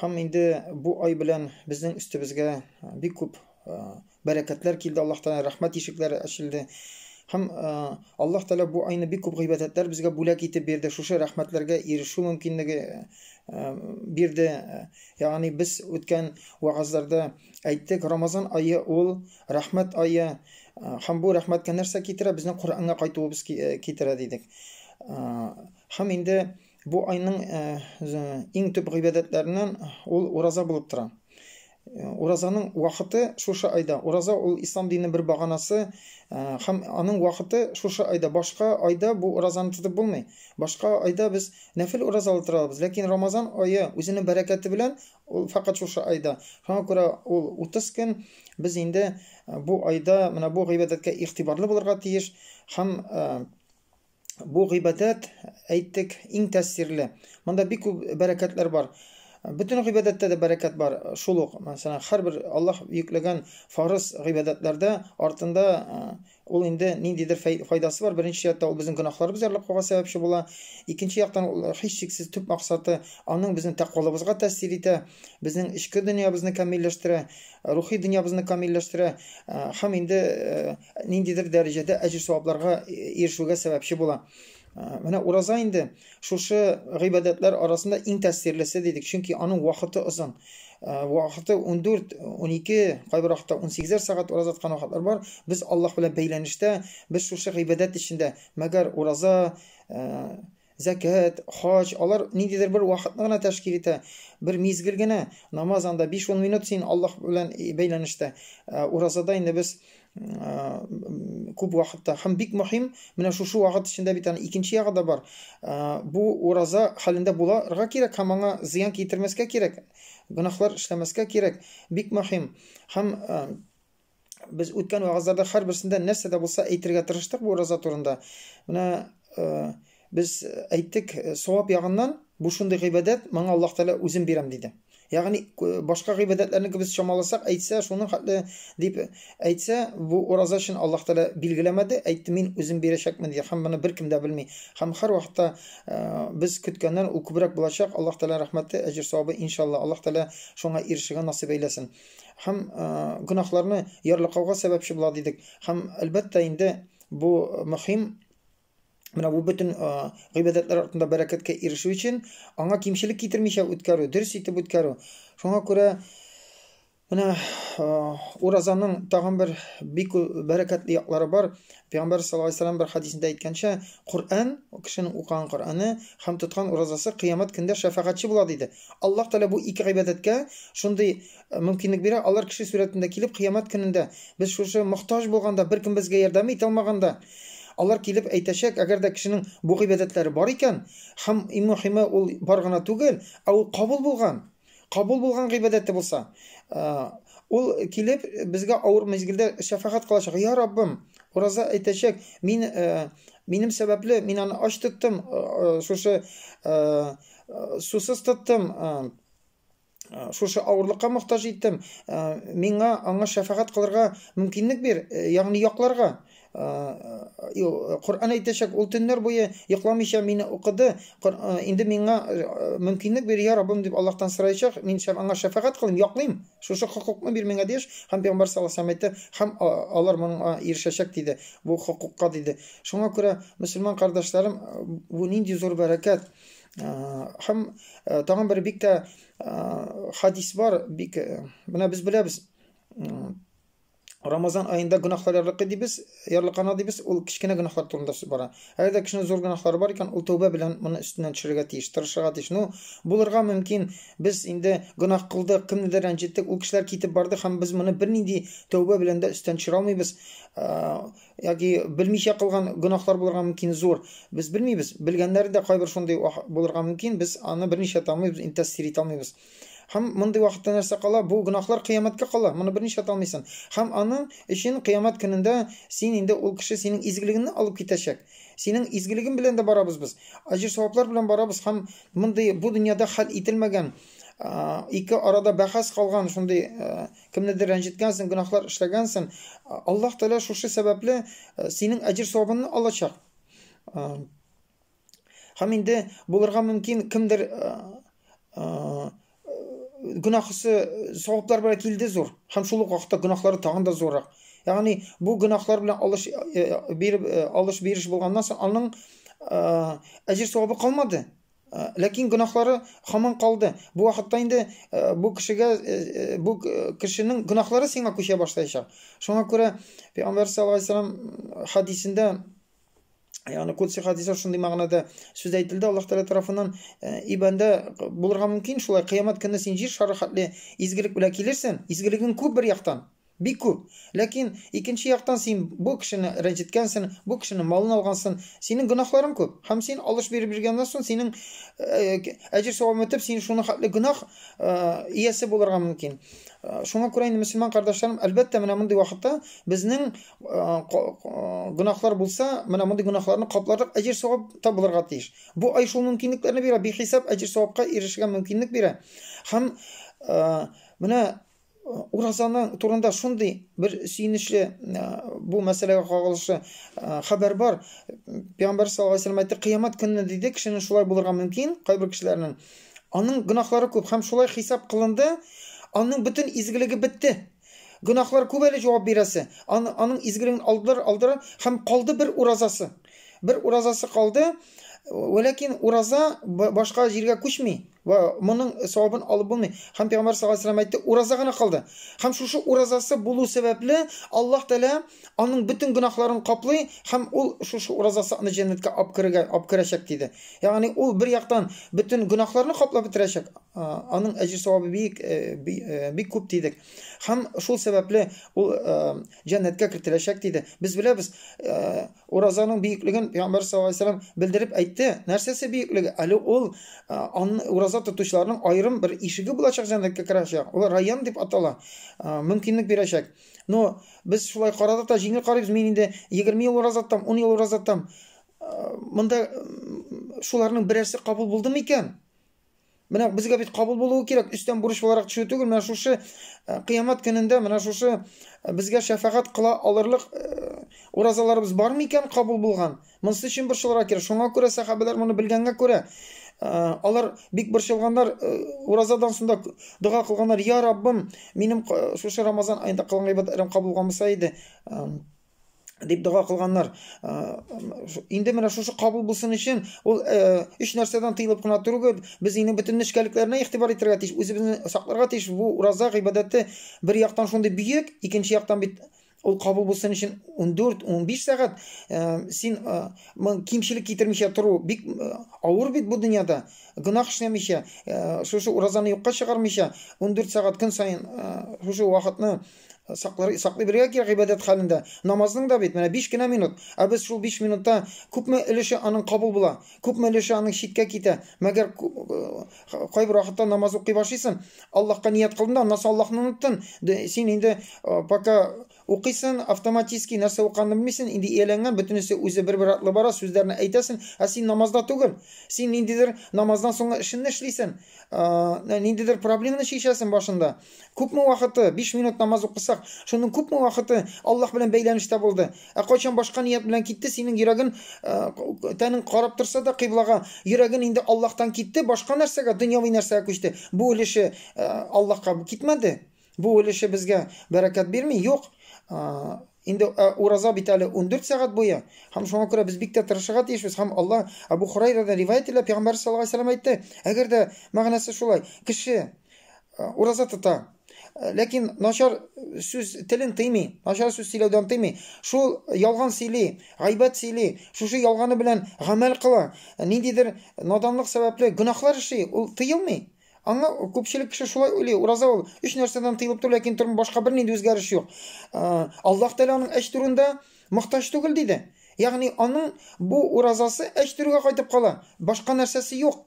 Хам инде бу ай белән безнең өстебезгә бик күп бәрәкәтләр килде Аллаһ Тәгалә, рәхмәт ишекләре ачылды. Хам Аллаһ Тәгалә бу айны бик күп гыйбадәтләр безгә бүләк итеп бирде. Шушы рәхмәтләргә ирешү мөмкинлеге бирде. Ягъни без үткән вагазларда әйттек, Рамазан ае ул рәхмәт ае. Хам бу рәхмәткә нәрсә китерә? Безнең Коръәнгә кайтуыбыз китерә дидек. Хам инде Бу айның иң төп гыйбадәтләреннән ул ураза булып тора. Уразаның вакыты шушы айда. Ураза ул ислам дине бер баганасы һәм аның вакыты шушы айда. Башка айда бу уразаны тотып булмый. Башка айда без нәфил уразалы тора алабыз, ләкин Рамазан ае үзенең бәрәкәте белән ул фәкать шушы айда. Шуңа күрә ул 30 көн без инде бу айда менә бу гыйбадәткә игътибарлы булырга тиеш һәм Бу гыйбадәт, әйттек, иң тәэсирле. Монда бик күп бәрәкәтләр бар. Бөтен гыйбадәттә дә бәрәкәт бар. Шул ук, мәсәлән, һәрбер Аллаһ йөкләгән фарыз гыйбадәтләрдә артында ул инде ниндидер файдасы бар. Беренче яктан ул безнең гөнаһларыбыз ярлыклыга сәбәпче була. Икенче яктан ул һичшиксез төп максаты аның безнең тәкъвалыбызга тәэсир итә, безнең эчке дөньябызны камилләштерә, рухи дөньябызны камилләштерә һәм инде ниндидер дәрәҗәдә әҗер-савапларга ирешүгә сәбәпче була. Менә ураза инде шушы гыйбадәтләр арасында иң тәэсирлесе дидек, чөнки аның вакыты озын. Вакыты 14, 12, кайбер вакытта 18 сәгать ураза тоткан вакытлар бар. Без Аллаһ белән бәйләнештә, без шушы гыйбадәт эчендә, мәгәр ураза Зәкят, хаҗ, алар ниндидер бер вакытны гына тәшкил итә, бер мизгел генә. Намаз анда биш-ун минут син Аллаһ белән бәйләнештә. Ә уразада инде без күп вакытта һәм бик мөһим, менә шушы вакыт эчендә бит аны икенче ягы да бар. Бу ураза хәлендә буларга кирәк һәм аңа зыян китермәскә кирәк, гөнаһлар эшләмәскә кирәк, бик мөһим. Һәм без үткән вагызларда һәрберсендә нәрсә дә булса әйтергә тырыштык бу ураза турында. Менә э, без әйттек, э, савап ягыннан бу шундый гыйбадәт, моңа Аллаһ Тәгалә үзен бирәм диде. Ягъни э, башка гыйбадәтләрне без чамаласак, әйтсә, шуның хәтле дип әйтсә, бу ураза өчен Аллаһ Тәгалә билгеләмәде, әйтте, мин үзем бирәчәкмен диде, һәм моны беркем дә белми. Һәм һәр вакытта без көткәннән ул күбрәк булачак. Аллаһ Тәгалә рәхмәте, әҗер савабы иншалла. Аллаһ Тәгалә шуңа ирешергә насыйп әйләсен. Һәм э, гөнаһларны ярлыкауга сәбәпче була дидек. Һәм әлбәттә инде бу мөһим Менә бу бөтен э, гыйбадәтләр артында бәрәкәткә ирешү өчен аңа кимчелек китермичә үткәрү, дөрес итеп үткәрү. Шуңа күрә менә э, уразаның тагын бер бик бәрәкәтле яклары бар. Пәйгамбәр саллаллаһу алейһи вәсәлләм бер хәдисендә әйткәнчә, Коръән, кешенең укыган Коръәне һәм тоткан уразасы кыямәт көндә шәфәгатьче була, диде. Аллаһ Тәгалә бу ике гыйбадәткә шундый э, мөмкинлек бирә, алар кеше сурәтендә килеп, кыямәт көнендә, без шушы мохтаҗ булганда, беркем безгә ярдәм итә алмаганда, алар килеп әйтәчәк, әгәр дә кешенең бу гыйбадәтләре бар икән, һәм иң мөһиме, ул бар гына түгел, ә ул кабул булган. Кабул булган гыйбадәте булса, ул килеп безгә авыр мизгелдә шәфәгать кылачак. Я Раббым, ураза әйтәчәк, мин минем сәбәпле мин аны ач тоттым, шушы сусыз тоттым, шушы авырлыкка мохтаҗ иттем. Миңа аңа шәфәгать кылырга мөмкинлек бир, ягъни якларга. Коръән әйтәчәк, ул төннәр буе йокламыйча мине укыды. Инде миңа мөмкинлек бир, я Раббым, дип Аллаһтан сораячак. Мин аңа шәфәгать кылыйм, яклыйм. Шушы хокукны бир миңа, дигәч, һәм пәйгамбәр саллаллаһу алейһи ва сәлләм әйтте, һәм алар моңа ирешәчәк, диде, бу хокукка, диде. Шуңа күрә, мөселман кардәшләрем, бу нинди зур бәрәкәт! Һәм тагын бер бик тә хадис бар, бик менә без беләбез. Рамазан аенда гөнаһлар ярлыкы дибез, ярлыкана дибез, ул кечкенә гөнаһлар турында сүз бара. Әгәр дә кешенең зур гөнаһлары бар икән, ул тәүбә белән моны өстеннән төшерергә тиеш, тырышырга тиеш. Ну, булырга мөмкин, без инде гөнаһ кылдык, кемнедер рәнҗеттек, ул кешеләр китеп барды һәм без моны бернинди тәүбә белән дә өстен төшерә алмыйбыз. Яки белмичә кылган гөнаһлар булырга мөмкин зур. Без белмибез, белгәннәр дә кайбер шундый булырга мөмкин, без аны берничә тамыйбыз, интәсир итә алмыйбыз. Һәм мондый вакытта нәрсә кала? Бу гөнаһлар кыямәткә кала. Моны берни эшләтә алмыйсың. Һәм аның өчен кыямәт көнендә син инде ул кеше синең изгелегеңне алып китәчәк. Синең изгелегең белән дә барабыз без. Аҗр-саваплар белән барабыз һәм мондый бу дөньяда хәл ителмәгән ике арада бәхәс калган шундый кемнедер рәнҗеткәнсең, гөнаһлар эшләгәнсең. Аллаһ Тәгалә шушы сәбәпле синең әҗер савабыңны алачак. Һәм инде булырга мөмкин кемдер гөнаһысы саваплар белән килде зур. Һәм шул ук вакытта гөнаһлары тагын да зуррак. Ягъни бу гөнаһлар белән алыш биреп алыш бириш булганнан соң аның әҗер савабы калмады. Ләкин гөнаһлары хаман калды. Бу вакытта инде бу кешегә бу кешенең гөнаһлары сиңа күчә башлаячак. Шуңа күрә Пәйгамбәр саллаллаһу алейһи ва саллям хадисендә яғни кудси хадисә шундый мәгънәдә сүз әйтелде аллаһ тәғәлә тарафынан и бәндә булырга мөмкин шулай қиямат көне син җир шары хәтле изгелек белән килерсең изгелегең күп бер яктан бик күп ләкин икенче яктан син бу кешене рәнҗеткәнсең бу кешене малын алгансың синең гөнаһларың күп һәм син алыш биреп биргәннән соң синең әҗер савабын үтеп син шуның хәтле гөнаһ иясе булырга мөмкин шуңа күрә инде мөселман кардәшләрем әлбәттә менә мондый вакытта безнең гөнаһлар булса, менә мондый гөнаһларны капларлык әҗер савап табылырга тиеш. Бу ай шул мөмкинлекләрне бирә, бихисап әҗер савапка ирешергә мөмкинлек бирә. Һәм менә уразаның турында шундый бер сөенечле бу мәсьәләгә кагылышлы хәбәр бар. Пәйгамбәр саллаллаһу алейһи әйтте, кыямат көнне диде, кешенең шулай булырга мөмкин, кайбер кешеләрнең. Аның гөнаһлары күп һәм шулай хисап кылынды, аның бөтен изгелеге бетте. Гөнаһлар күп әле җавап бирәсе. Аны, аның изгелеген алдылар, алдылар һәм калды бер уразасы. Бер уразасы калды. Вәләкин ураза башка җиргә күчми. Ва моның савабын алып булмый. Һәм Пәйгамбәр саллаллаһу алейһи ва ураза гына калды. Һәм шушы уразасы булу сәбәпле Аллаһ Тәгалә аның бөтен гөнаһларын каплый һәм ул шушы уразасы аны җәннәткә алып керергә алып керәчәк диде. Ягъни ул бер яктан бөтен гөнаһларны каплап бетерәчәк, аның әҗер савабы бик бик күп дидек. Һәм шул сәбәпле ул җәннәткә кертеләчәк диде. Без беләбез, уразаның бөеклеген Пәйгамбәр саллаллаһу алейһи вәсәлләм белдереп әйтте. Нәрсәсе бөеклеге? Әле ул ураза тотучыларның аерым бер ишеге булачак җәннәткә керәчәк. Ул район дип атала. Мөмкинлек бирәчәк. Но без шулай карадык та җиңел карыйбыз. Мин инде 20 ел ураза тотам, 10 ел ураза тотам. Монда шуларның берәрсе кабул булды микән? Менә безгә бит кабул булуы кирәк, өстән бурыч буларак төшү түгел. Менә шушы э, кыямәт көнендә менә шушы э, безгә шәфәгать кыла алырлык э, уразаларыбыз бар микән кабул булган? Монысы өчен борчылырга кирәк. Шуңа күрә сәхабәләр моны белгәнгә күрә, алар бик борчылганнар, уразадан соң да дога кылганнар, "Я Раббым, минем шушы Рамазан аенда кылган гыйбадәтләрем кабул булмаса иде" дип дога кылганнар. Инде менә шушы кабул булсын өчен ул өч нәрсәдән тыелып кына түгел, без инде бөтен нечкәлекләренә игътибар итәргә тиеш, үзебезне сакларга тиеш. Бу ураза гыйбадәте бер яктан шундый бөек, икенче яктан бит ул кабул булсын өчен 14-15 сәгать э, син э, кимчелек китермичә тору бик э, авыр бит бу дөньяда гөнаһ эшләмичә э, шушы уразаны юкка чыгармыйча 14 сәгать көн саен э, шушы вакытны саклар саклый бергә кирәк гыйбадәт хәлендә намазның да бит менә 5 кенә минут ә без шул 5 минутта күпме өлеше аның кабул була күпме өлеше аның читкә китә мәгәр э, кайбер вакытта намаз укый башлыйсын, Аллаһка ният кылдың да, аннан соң Аллаһны оныттын. Син инде пока укыйсын, автоматически нәрсә уканны белмисен, инде ияләнгән, бөтенесе үзе бер-бер атлы бара, сүзләрне әйтәсен, ә син намазда түгел. Син ниндидер намаздан соңгы эшенне эшлисен, ниндидер проблеманы чишәсен башында. Күпме вакыты, биш минут намаз укысак, шуның күпме вакыты Аллаһ белән бәйләнештә булды? Ә кайчан башка ният белән китте, синең йөрәген, э, тәнең карап торса да кыйблага, йөрәген инде Аллаһтан китте, башка нәрсәгә, дөньяви нәрсәгә күчте. Бу өлеше э, Аллаһка китмәде. Бу өлеше безгә бәрәкәт бирми, юк. Э, инде э, ураза бит әле 14 сәгать буе. Һәм шуңа күрә без бик тә тырышырга тиешбез. Һәм Аллаһ Абу Хурайрадан риваять ителә, пәйгамбәр саллаллаһу алейһи ва сәлләм әйтте, әгәр дә мәгънәсе шулай, кеше Ураза тота. Ләкин начар сүз телен тыймый, начар сүз сөйләүдән тыймый. Шул ялган сөйли, гайбәт сөйли, шушы ялганы белән гамәл кыла. Ниндидер наданлык сәбәпле гөнаһлар эшли, ул тыелмый. Аңа күпчелек кеше шулай уйлый, ураза ул өч нәрсәдән тыелып тор, ләкин тормыш башка бернинди үзгәреш юк. Аллаһ Тәгалә аның әч турында мохтаҗ түгел диде. Ягъни аның бу уразасы әч турыга кайтып кала, башка нәрсәсе юк.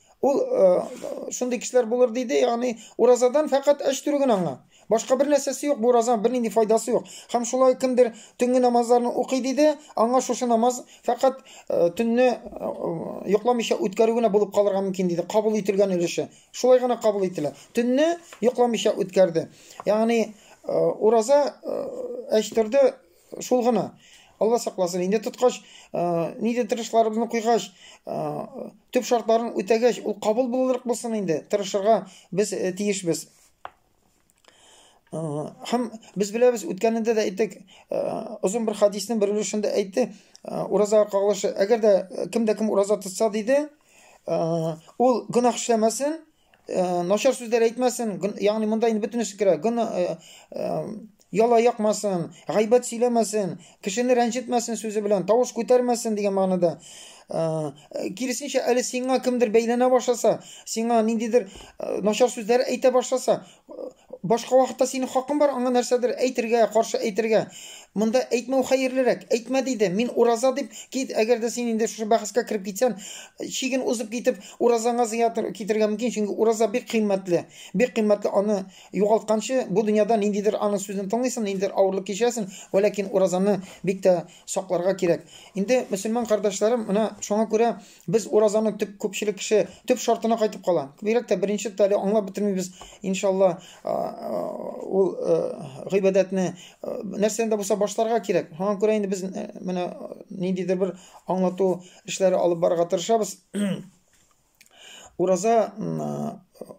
Ул шундый кешеләр булыр диде, ягъни уразадан фәкать әч төрү генә аңа. Башка бер нәрсәсе юк, бу ураза бернинди файдасы юк. Һәм шулай кемдер төнге намазларны укый диде, аңа шушы намаз фәкать төнне йокламыйча үткәрү генә булып калырга мөмкин диде. Кабул ителгән өлеше. Шулай гына кабул ителә. Төнне йокламыйча үткәрде. Ягъни ураза әч төрде, Шул гына. Алла сакласын, инде тоткач, нидер тырышларыбызны куйгач, төп шартларын үтәгәч, ул кабул булырлык булсын инде, тырышырга без э, тиешбез. Һәм без беләбез, үткәнендә дә әйттек, озын бер хадисның бер өлешендә әйтте, ураза кагылышы, әгәр дә кем дә кем ураза тотса диде, ул гөнаһ эшләмәсен, Э, начар сүзләр әйтмәсен, ягъни монда инде бөтенесе керә. Гын э, э, яла якмасын, гайбәт сөйләмәсен, кешене рәнҗетмәсен сүзе белән, тавыш күтәрмәсен дигән мәгънәдә. Киресенчә, әле сиңа кемдер бәйләнә башласа, сиңа ниндидер начар сүзләр әйтә башласа, Башка вакытта синең хакың бар аңа нәрсәдер әйтергә, каршы әйтергә. Монда әйтмәү хәерлерәк. Әйтмә диде, мин ураза дип кит, әгәр дә син инде шушы бәхәскә кереп китсән, чиген узып китеп, уразаңа зыя китерергә мөмкин, чөнки ураза бик кыйммәтле. Бик кыйммәтле, аны югалтканчы, бу дөньяда ниндидер аның сүзен тыңлыйсың, ниндидер авырлык кичерәсең, вә ләкин уразаны бик тә сакларга кирәк. Инде, мөселман кардәшләрем, менә шуңа күрә Без уразаның төп күпчелек кеше төп шартына кайтып кала. Бигрәк тә беренче тә әле аңлап бетермибез. Иншалла ул гыйбадәтне нәрсәдән дә булса башларга кирәк. Һәм күрә инде без менә ниндидер бер аңлату эшләре алып барырга тырышабыз. Ураза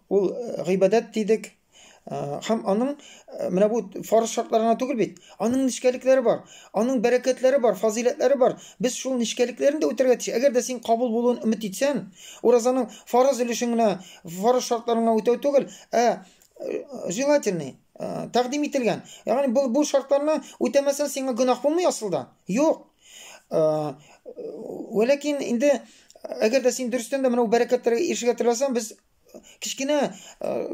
ул гыйбадәт дидек. Һәм аның менә бу фарыз шартларына түгел бит. Аның нечкәлекләре бар. Аның бәрәкәтләре бар, фазыйләтләре бар. Без шул нечкәлекләрен дә үтәргә тиеш. Әгәр дә син кабул булуын өмет итсәң, уразаның фарыз өлешен генә, фарыз шартларын гына үтәү түгел, ә желательный, тәкъдим ителгән. Ягъни бу бу шартларны үтәмәсәң сиңа гөнаһ булмый асылда. Юк. Вәләкин инде әгәр дә син дөрестән дә менә бу бәрәкәтләргә ирешергә теләсәң, без кечкенә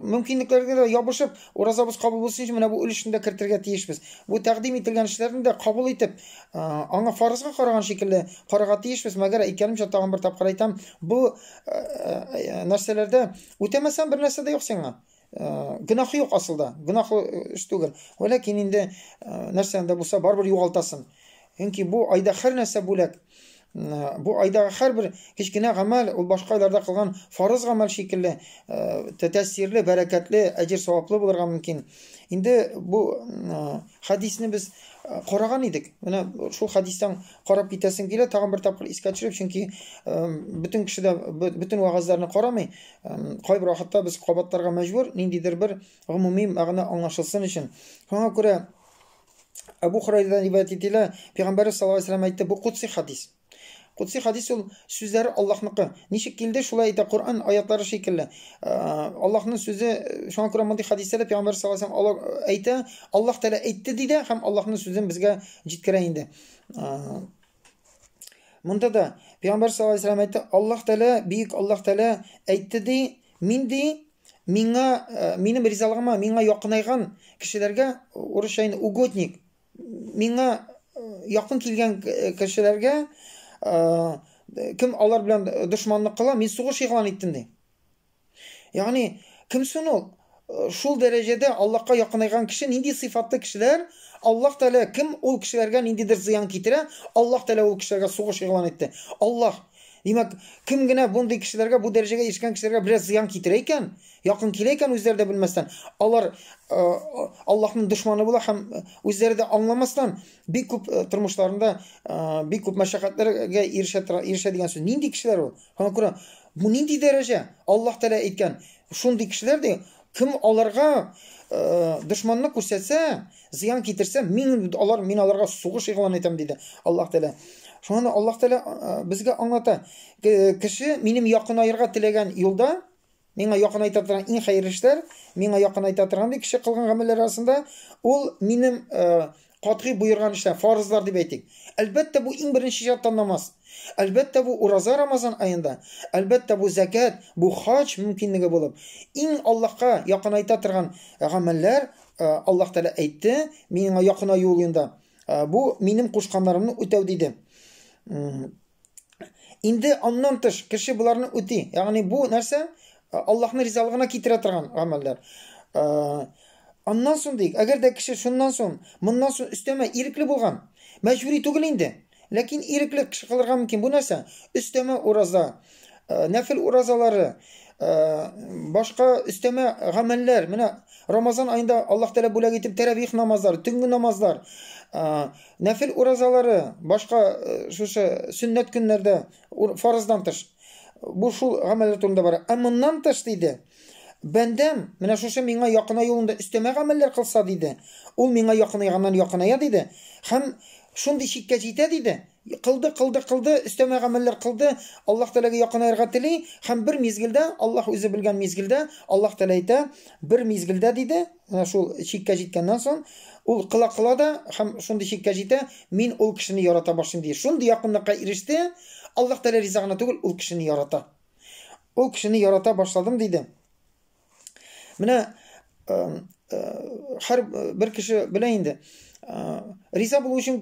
мөмкинлекләргә дә ябышып, уразабыз кабул булсын өчен менә бу өлешне дә кертергә тиешбез. Бу тәкъдим ителгән эшләрне дә кабул итеп, аңа фарызга караган шикелле карарга тиешбез. Мәгәр әйткәнемчә, тагын бер тапкыр әйтәм, бу нәрсәләрдә үтәмәсәң бер нәрсә дә юк сиңа. Гөнаһы юк асылда, гөнаһлы эш түгел. Вәләкин инде нәрсәне дә булса барыбер югалтасың. Чөнки бу айда һәр нәрсә бүләк. Бу айдагы һәрбер кечкенә гамәл ул башка айларда кылган фарыз гамәл шикелле тәэсирле, бәрәкәтле, әҗер саваплы булырга мөмкин. Инде бу хадисне без караган идек. Менә шул хадистан карап китәсем килә, тагын бер тапкыр искә төшереп, чөнки бөтен кеше дә бөтен вагазларны карамый. Кайбер вакытта без кабатларга мәҗбүр, ниндидер бер гомуми мәгънә аңлашылсын өчен. Шуңа күрә Абу Хурайрадан риваять ителә, Пәйгамбәрбез саллаллаһу алейһи вәсәлләм әйтте, бу кутси хадис. Кутси хадис ул сүзләре Аллаһныкы. Ничек килде, шулай әйтә Коръән аятлары шикелле. Э, Аллаһның сүзе, шуңа күрә мондый хадисләрдә Пәйгамбәр саллаллаһу алейһи вәсәлләм э, әйтә, Аллаһ Тәгалә әйтте ди дә һәм Аллаһның сүзен безгә җиткерә инде. Э, Монда да Пәйгамбәр саллаллаһу алейһи әйтте, Аллаһ Тәгалә, бик Аллаһ Тәгалә әйтте ди, мин ди, миңа э, минем ризалыгыма миңа якынайган кешеләргә урысча инде угодник, миңа э, якын килгән э, кешеләргә кем алар белән дошманлык кыла, мин сугыш игълан иттем ди. Ягъни, кемсен ул? Шул дәрәҗәдә Аллаһка якынайган кеше нинди сыйфатлы кешеләр? Аллаһ Тәгалә кем ул кешеләргә ниндидер зыян китерә? Аллаһ Тәгалә ул кешеләргә сугыш игълан итте. Аллаһ Димәк, кем генә бундый кешеләргә, бу дәрәҗәгә ирешкән кешеләргә бераз зыян китерә икән, якын килә икән үзләре дә белмәстән, алар э, Аллаһның дошманы була һәм э, үзләре дә аңламастан бик күп э, тормышларында бик күп мәшәкатьләргә ирешә ирешә дигән сүз. Нинди кешеләр ул? Һәм күрә, бу нинди дәрәҗә? Аллаһ Тәгалә әйткән, шундый кешеләр ди, кем аларга дошманны күрсәтсә, зыян китерсә, мин алар мин аларга сугыш игълан итәм диде Аллаһ Тәгалә. Шуңа Аллаһ Тәгалә безгә аңлата, кеше минем якынаерга теләгән юлда Миңа якынайта торган иң хәерле эшләр, миңа якынайта торган ди кеше кылган гамәлләр арасында, ул минем катгый боерган эшләр, фарызлар дип әйтик. Әлбәттә, бу иң беренче чатта намаз. Әлбәттә, бу ураза Рамазан аенда. Әлбәттә, бу зәкят, бу хаҗ мөмкинлеге булып. Иң Аллаһка якынайта торган гамәлләр, Аллаһ Тәгалә әйтте, миңа якынаю юлында. Бу минем кушканнарымны үтәү диде. Инде аннан тыш кеше боларны үти. Ягъни бу нәрсә? Э, Аллаһның ризалыгына китерә торган гамәлләр. Э, аннан соң дик, әгәр дә кеше шуннан соң, моннан соң өстәмә ирекле булган, мәҗбүри түгел инде. Ләкин ирекле кеше кылырга мөмкин. Бу нәрсә? Өстәмә ураза, э, нәфил уразалары, башка өстәмә гамәлләр. Менә Рамазан айында Аллаһ Тәгалә бүләк итеп тәрәвих намазлары, төнге намазлар, Нәфел уразалары, башка шушы сөннәт көннәрдә фарыздан тыш. Бу шул гамәлләр турында бара. Ә моннан тыш диде, бәндәм менә шушы миңа якына юлында өстәмә гамәлләр кылса диде, ул миңа якынайганнан якыная диде, һәм шундый чиккә җитә диде, кылды, кылды, кылды, өстәмә гамәлләр кылды, Аллаһ Тәгаләгә якынаерга тели, һәм бер мизгелдә, Аллаһ үзе белгән мизгелдә, Аллаһ Тәгалә әйтә, бер мизгелдә диде, Менә шул чиккә җиткәннән соң, ул кыла-кыла да һәм шундый чиккә җитә, мин ул кешене ярата башлыйм ди. Шундый якынлыкка иреште, Аллаһ Тәгалә риза гына түгел, ул кешене ярата. Ул кешене ярата башладым диде. Менә һәр бер кеше белә инде. Риза булу өчен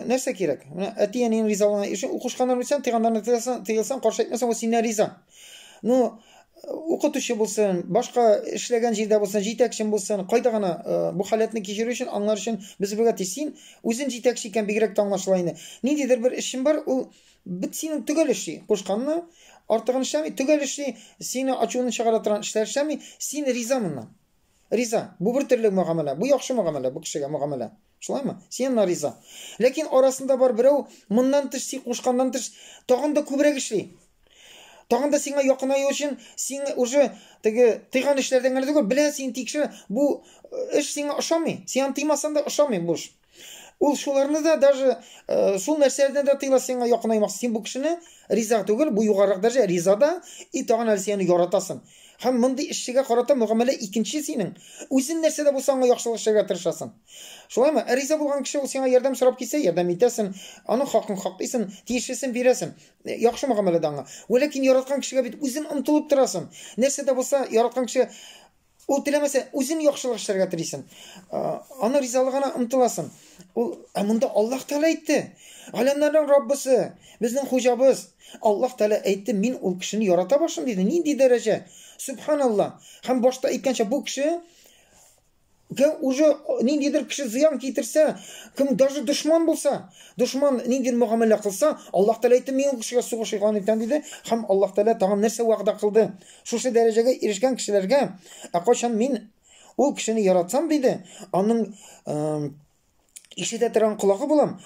нәрсә кирәк? Менә әти-әниең ризалыгына өчен укушканнан үтсәң, тыйганнарны тыйсаң, тыйылсаң, каршы әйтмәсәң, ул синнән риза. Ну, укытучы булсын, башка эшләгән җирдә булсын, җитәкчем булсын, кайда гына э, бу халәтне кичерү өчен, аңлар өчен без бергә ти. Син үзен җитәкче икән бигрәк тә аңлашыла инде. Ниндидер бер эшем бар, ул бит синең төгәл эшли. Кушканны артыгын эшләми, төгәл эшли, сине ачуны чыгара торган эшләр эшләми, син риза моннан. Риза. Бу бер төрле мөгамәлә. Бу яхшы мөгамәлә, бу кешегә мөгамәлә. Шулаймы? Син аңа риза. Ләкин арасында бар берәү, моннан тыш, син кушканнан тыш, тагын да күбрәк эшли. Тагын да сиңа якынаю өчен, син уже теге тыйган эшләрдән генә түгел, белә, син тикшер, бу э, эш сиңа ошамый. Син аны тыймасаң да ошамый бу эш. Ул шуларны да даже э, шул нәрсәләрдән дә тыела сиңа якынаймакчы. Син бу кешене риза түгел, бу югарырак дәрәҗә риза да, и тагын әле сине яратасың. Һәм мондый эшчегә карата мөгамәлә икенче синең. Үзен нәрсә дә булса аңа яхшылык эшләргә тырышасың. Шулаймы? Ә риза булган кеше ул сиңа ярдәм сорап килсә, ярдәм итәсең, аның хакын хаклыйсың, тиешлесен бирәсең. Э, яхшы мөгамәләдә аңа. Вәләкин яраткан кешегә бит үзен омтылып торасың. Нәрсә дә булса яраткан кеше Ул теләмәсә, үзен яхшылык эшләргә телисен. Аны ризалыгына омтыласын. Ул ә монда Аллаһ Тәгалә әйтте. Галәмнәрнең Раббысы, безнең хуҗабыз. Аллаһ Тәгалә әйтте, мин ул кешене ярата башлыйм диде. Нинди дәрәҗә? Субханаллаһ. Һәм башта әйткәнчә бу кеше Кем уже ниндидер кеше зыян китерсә, кем даже дошман булса, дошман ниндидер мөгамәлә кылса, Аллаһ Тәгалә әйтте, мин ул кешегә сугыш игълан итәм диде, һәм Аллаһ Тәгалә тагын нәрсә вәгъдә кылды? Шушы дәрәҗәгә ирешкән кешеләргә, ә кайчан мин ул кешене яратсам диде, аның э, ишетә торган колагы булам,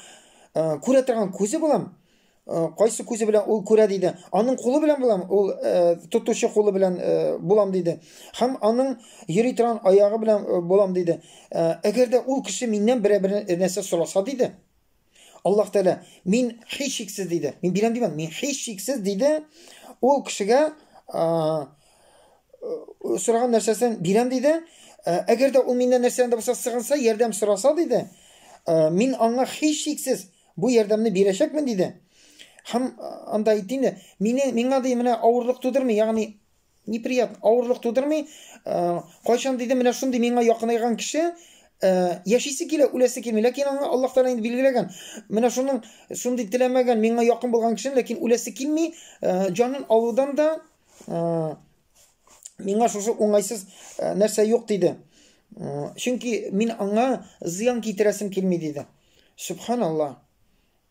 э, күрә торган күзе булам, Э, кайсы күзе белән ул күрә диде аның кулы белән булам ул э, тотучы кулы белән э, булам диде һәм аның йөри торган аягы белән булам диде әгәр дә ул кеше миннән берәр нәрсә сораса диде Аллаһ Тәгалә, мин һичшиксез диде. Мин бирәм димәдем, мин һичшиксез диде. Ул кешегә сораган нәрсәсен бирәм диде. Әгәр дә ул миннән нәрсәдән дә булса сыгынса, ярдәм сораса диде, мин аңа һичшиксез бу ярдәмне бирәчәкмен диде. Һәм анда әйтте инде, мине миңа ди менә авырлык тудырмый, ягъни Неприят, авырлык тудырмый. Э, кайчан диде, менә шундый миңа якынайган кеше э, яшисе килә, үләсе килми. Ләкин аңа Аллаһ Тәгалә инде билгеләгән. Менә шуның шундый теләмәгән, миңа якын булган кеше, ләкин үләсе килми, э, җанын алудан да миңа шушы уңайсыз нәрсә юк диде. Чөнки мин аңа зыян китерәсем килми диде. Субханаллаһ.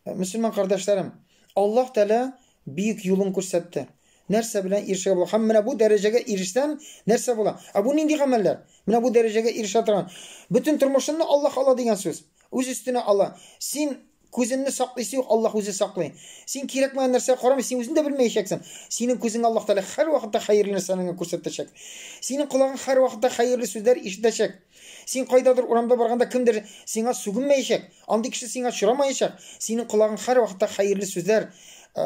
Мөселман кардәшләрем, Аллаһ Тәгалә биек юлын күрсәтте. Нәрсә белән ирешергә була? Һәм менә бу дәрәҗәгә ирешсәм, нәрсә була? Ә бу нинди гамәлләр? Менә бу дәрәҗәгә ирешә торган. Бөтен тормышымны Аллаһ ала дигән сүз. Үз өстенә ала. Син күзеңне саклыйсы юк, Аллаһ үзе саклый. Син кирәкмәгән нәрсәгә карамый, син үзең дә белмәячәксең. Синең күзеңә Аллаһ Тәгалә һәрвакытта хәерле нәрсәләрне генә күрсәтәчәк. Синең колагың һәрвакытта хәерле сүзләр ишетәчәк. Син кайдадыр урамда барганда кемдер сиңа сүгенмәячәк. Андый кеше сиңа очрамаячак. Синең колагың һәрвакытта хәерле сүзләр, э,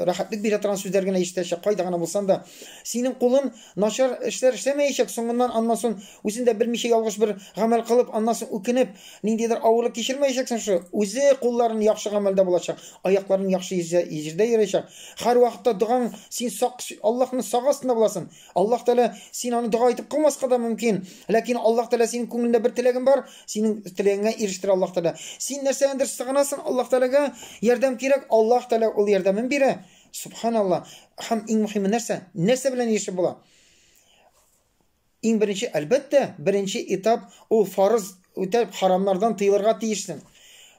рәхәтлек бирә торган сүзләр генә ишетәчәк, кайда гына булсаң да. Синең кулың начар эшләр эшләмәячәк. Соңыннан аннан соң үзен дә белмичә ялгыш бер гамәл кылып, аннан соң үкенеп, ниндидер авырлык кичермәячәксең шушы. Үзе кулларын яхшы гамәлдә булачак, аякларын яхшы җирдә йөрәчәк. Һәрвакытта догаң син сак, Аллаһның сак астында буласың. Аллаһ Тәгалә син аны дога итеп кылмаска да мөмкин. Ләкин Аллаһ Тәгалә синең күңелендә бер теләгең бар, синең теләгеңә ирештерә Аллаһ Тәгалә. Син нәрсәгәдер сыгынасың Аллаһ Тәгаләгә, ярдәм кирәк, Аллаһ Тәгалә ул ярдәмен бирә. Субханалла. Һәм иң мөһиме нәрсә? Нәрсә белән ирешеп була? Иң беренче, әлбәттә, беренче этап ул фарыз Үтәп харамнардан тыелырга тиешсең.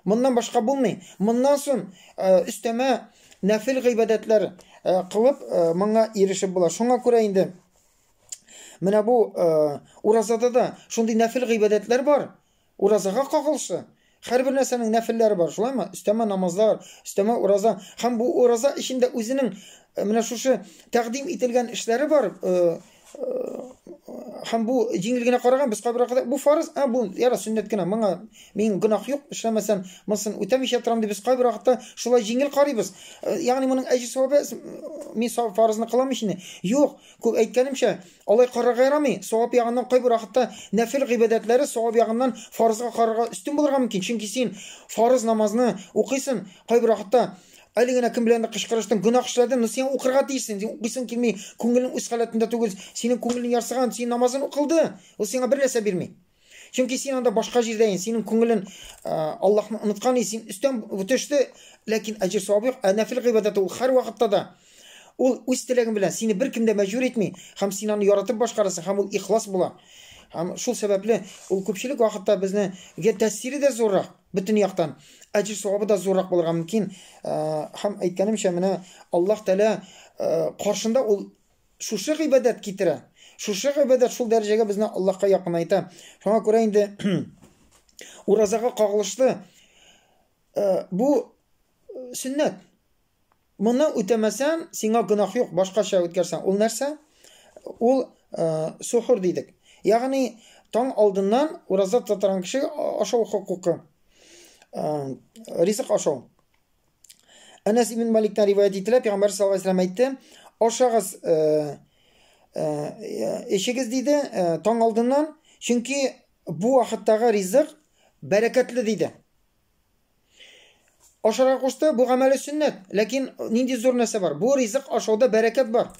Моннан башка булмый. Моннан соң өстәмә нәфил гыйбадәтләр кылып моңа ирешеп була. Шуңа күрә инде менә бу уразада да шундый нәфил гыйбадәтләр бар. Уразага кагылышлы. Хәр бер нәрсәнең нәфилләре бар, шулаймы? Өстәмә намазлар, өстәмә ураза. Һәм бу ураза эчендә үзенең менә шушы тәкъдим ителгән эшләре бар, һәм бу җиңел генә караган без кабергә кадәр бу фарыз ә бу яра сөннәт кенә моңа мин гөнаһ юк эшләмәсәм монысын үтәмичә торам дип без кайбер вакытта шулай җиңел карыйбыз ягъни моның әҗер савабы мин фарызны кылам өчен юк күп әйткәнемчә алай карарга ярамый савап ягыннан кайбер вакытта нәфил гыйбадәтләре савап ягыннан фарызга карарга өстен булырга мөмкин чөнки син фарыз намазны укыйсың кайбер вакытта Әле генә кем беләндер кычкырыштың, гөнаһ эшләдең, но сиңа укырга тиешсең, син укыйсың килми, күңелең үз халәтендә түгел, синең күңелең ярсыган, син намазын укылды, ул сиңа бер нәрсә бирми. Чөнки син анда башка җирдә ин, синең күңелен Аллаһны оныткан, син өстән төште, ләкин әҗер савабы юк. Ә нәфил гыйбадәте ул һәр вакытта да ул үз теләгең белән сине беркем дә мәҗбүр итми, һәм син аны яратып башкарасың, һәм ул ихлас була. Һәм шул сәбәпле ул күпчелек вакытта безне гә тәэсире дә зуррак. Бөтен яктан әҗер-савабы да зуррак булырга мөмкин. Һәм әйткәнемчә, менә Аллаһ Тәгалә каршында ул шушы гыйбадәт китерә. Шушы гыйбадәт шул дәрәҗәгә безне Аллаһка якынайта. Шуңа күрә инде уразага кагылышлы бу сөннәт. Моны үтәмәсәм, сиңа гөнаһ юк, башкача үткәрсәң. Ул нәрсә? Ул сухур дидек. Ягъни таң алдыннан ураза татырган кеше ашау хокукы. Ризык ашау. Әнәс ибн Маликтан риваять ителә, Пәйгамбәр саллаллаһу алейһи ва сәлләм әйтте, ашагыз, э, э, эчегез диде, э, таң алдыннан, чөнки бу вакыттагы ризык бәрәкәтле диде. Ашарга кушты, бу гамәле сөннәт. Ләкин нинди зур нәрсә бар? Бу ризык ашауда бәрәкәт бар.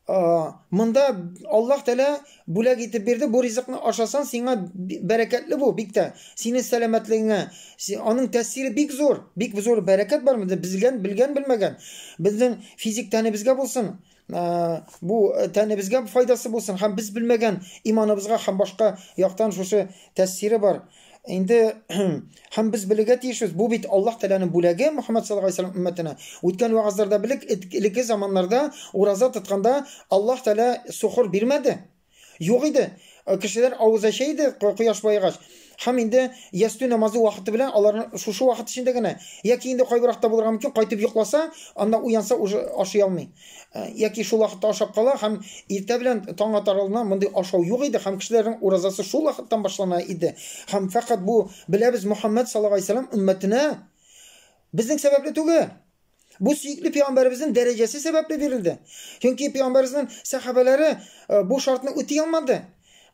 Монда Аллаһ Тәлә бүләк итеп бирде, бу ризыкны ашасан, сиңа бәрәкәтле бу, бик тә. Синең сәламәтлегеңә, аның тәэсире бик зур, бик зур бәрәкәт бар монда, безгән, белгән, белмәгән. Безнең физик тәнебезгә булсын, Ә, бу э, тәнебезгә файдасы булсын һәм без белмәгән иманыбызга һәм башка яктан шушы тәэсире бар. Инде һәм без белергә тиешбез. Бу бит Аллаһ Тәгаләнең бүләге Мөхәммәд саллаллаху алейһи вәсәлләм өммәтенә. Үткән вагызларда белек элекке заманнарда ураза тотканда Аллаһ Тәгалә сухур бирмәде. Юк иде. Э, кешеләр авыз ача иде кояш баегач. Һәм инде ястү намазы вакыты белән алар шушы вакыт эчендә генә яки инде кайбыракта булырга мөмкин, кайтып йокласа, анда уянса уже ашый алмый. Э, яки шул вакытта ашап кала һәм иртә белән таң атар алдына мондый ашау юк иде һәм кешеләрнең уразасы шул вакыттан башлана иде. Һәм фәкать бу беләбез Мөхәммәд саллаллаһу алейһи вәсәлләм өммәтенә безнең сәбәпле түгел. Бу сөекле пәйгамбәребезнең дәрәҗәсе сәбәпле бирелде. Чөнки пәйгамбәребезнең сәхабәләре э, бу шартны үти алмады.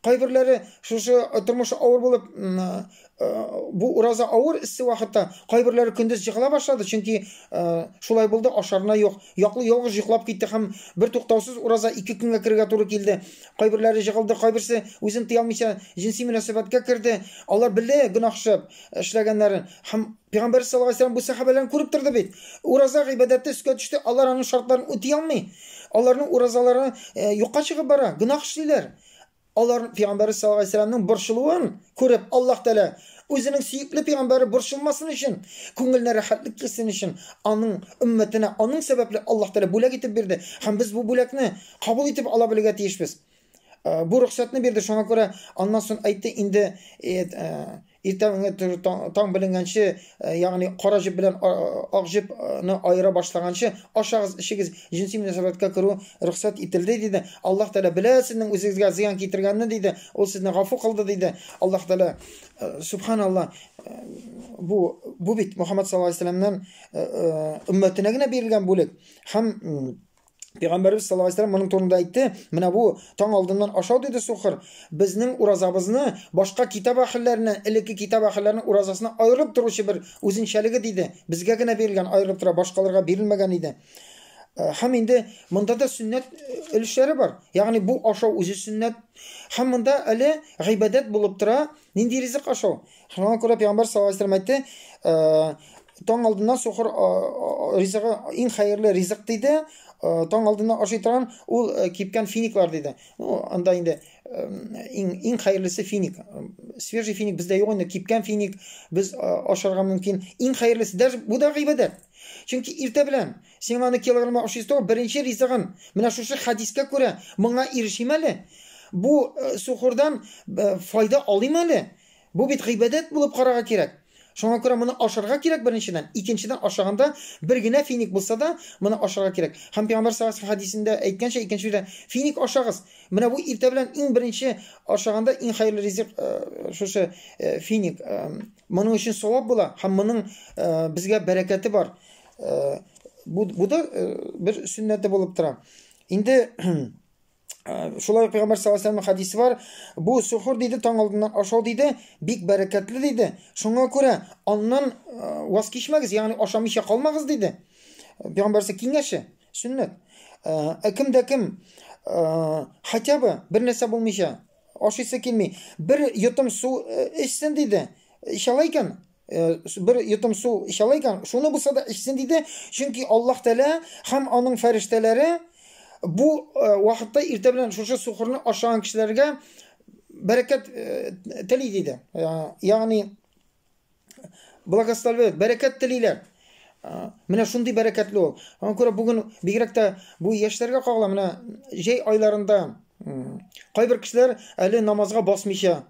Кайберләре шушы э, тормышы авыр булып э, бу ураза авыр иссе вакытта кайберләре көндез җыгыла башлады, чөнки шулай булды, ашарына юк. Яклы ялгыз йоклап китте һәм бер туктаусыз ураза ике көнгә керергә туры килде. Кайберләре җыгылды, кайберсе үзен тыя алмыйча җинси мөнәсәбәткә керде. Алар белде гөнаһ эшләгәннәрен һәм Пәйгамбәр саллаллаһу алейһи ва сәлләм бу сәхабәләрен күреп торды бит. Ураза гыйбадәте өскә төште, алар аның шартларын үти алмый. Аларның уразалары э, юкка чыгып бара, гөнаһ эшлиләр. Алар пәйгамбәр саллаллаһу алейһи ва сәлләмнең борчылуын күреп, Аллаһ Тәгалә үзенең сөекле пәйгамбәре борчылмасын өчен, күңеленә рәхәтлек килсен өчен, аның өммәтенә аның сәбәпле Аллаһ Тәгалә бүләк итеп бирде. Һәм без бу бүләкне кабул итеп ала белергә тиешбез. Э, бу рөхсәтне бирде шуңа күрә аннан соң әйтте инде э, э, иртәнге таң беленгәнче ягъни кара җеп белән ак җепне аера башлаганчы ашагыз эчегез җенси мөнәсәбәткә керү рөхсәт ителде диде аллаһ тәгалә белә сезнең үзегезгә зыян китергәнне диде ул сезне гафу кылды диде аллаһ тәгалә субханалла бу бу бит мөхәммәд саллаллаху алейһи вәсәләмнән өммәтенә генә бирелгән бүлек һәм Пәйгамбәрбез саллаллаһу алейһи моның турында әйтте, менә бу таң алдыннан ашау диде сухыр. Безнең уразабызны башка китап әһелләренә, элекке китап әһелләренең уразасына аерылып торучы бер үзенчәлеге диде. Безгә генә бирелгән, аерылып тора, башкаларга бирелмәгән иде. Э, һәм инде монда да сөннәт э, өлешләре бар. Ягъни бу ашау үзе сөннәт. Һәм монда әле гыйбадәт булып тора, Нинди ризык ашу? Шуңа күрә пәйгамбәр саллаллаһу алейһи вәсәлләм әйтте, э, таң алдыннан сухыр э, э, ризыгы иң хәерле ризык диде, таң алдыннан ашый торган ул кипкән финиклар диде. Ну, анда инде иң иң хәерлесе финик. Свежий финик бездә юк инде, кипкән финик без ашарга мөмкин. Иң хәерлесе даже бу да гыйбадәт. Чөнки иртә белән Сиңа аны килограмма ошый торган беренче ризыгын. Менә шушы хәдискә күрә моңа ирешим әле. Бу э, сухурдан э, файда алыйм әле. Бу бит гыйбадәт булып карарга кирәк. Шуңа күрә моны ашарга кирәк беренчедән, икенчедән ашаганда бер генә финик булса да, моны ашарга кирәк. Һәм Пәйгамбәр саллаллаху алейһи хәдисендә әйткәнчә, икенче сүздә финик ашагыз. Менә бу иртә белән иң беренче ашаганда иң хәерле ризык э, шушы э, финик. Э, моның өчен савап була һәм моның э, безгә бәрәкәте бар. Э, бу бу да э, бер сүннәте булып тора. Инде э, шулай ук Пәйгамбәр саллаллаһу алейһи хадисе бар. Бу сухур диде, таң алдыннан ашау диде, бик бәрәкәтле диде. Шуңа күрә аннан ваз кичмәгез, ягъни ашамыйча калмагыз диде. Пәйгамбәр киңәше, сүннәт. Ә кем дә кем хотя бы бер нәрсә булмыйча ашыйсы килми, бер йотым су эчсен диде. Ишалай икән, Э, бер йотым су эчә ала икән, шуны булса да эчсен диде, чөнки Аллаһ Тәгалә һәм аның фәрештәләре бу э, вакытта иртә белән шушы сухырны ашаган кешеләргә бәрәкәт э, тели диде. Ягъни благословляют, бәрәкәт телиләр. Менә шундый бәрәкәтле ул. Аңа күрә бүген бигрәк тә бу яшьләргә кагыла, менә җәй айларында кайбер кешеләр әле намазга басмыйча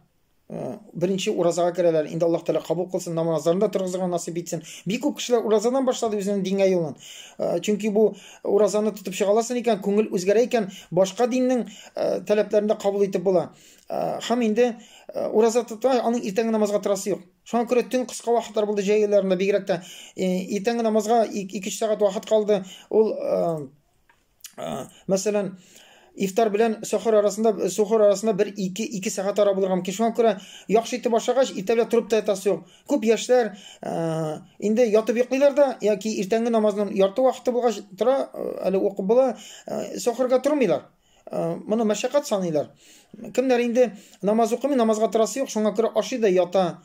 Э, беренче уразага керәләр инде аллаһ тәғәлә кабул кылсын намазларын да торгызырга насыйп итсен бик күп кешеләр уразадан башлады үзенең дингә юлын э, чөнки бу уразаны тотып чыга аласың икән күңел үзгәрә икән башка диннең э, таләпләрен дә кабул итеп була һәм инде ураза тота аның иртәнге намазга торасы юк шуңа күрә төн кыска вакытлар булды җәй айларында бигрәк тә иртәнге намазга ике өч сәгать вакыт калды ул мәсәлән, ифтар белән сәхәр арасында сәхәр арасында бер ике ике сәгать ара булган мөмкин шуңа күрә яхшы итеп ашагач иртәгә торып та ятасы юк күп яшьләр ә, инде ятып йоклыйлар да яки иртәнге намазның ярты вакыты булгач тора әле укып була ә, сәхәргә тормыйлар ә, моны мәшәкать саныйлар кемнәр инде намаз укымый намазга торасы юк шуңа күрә ашый да ята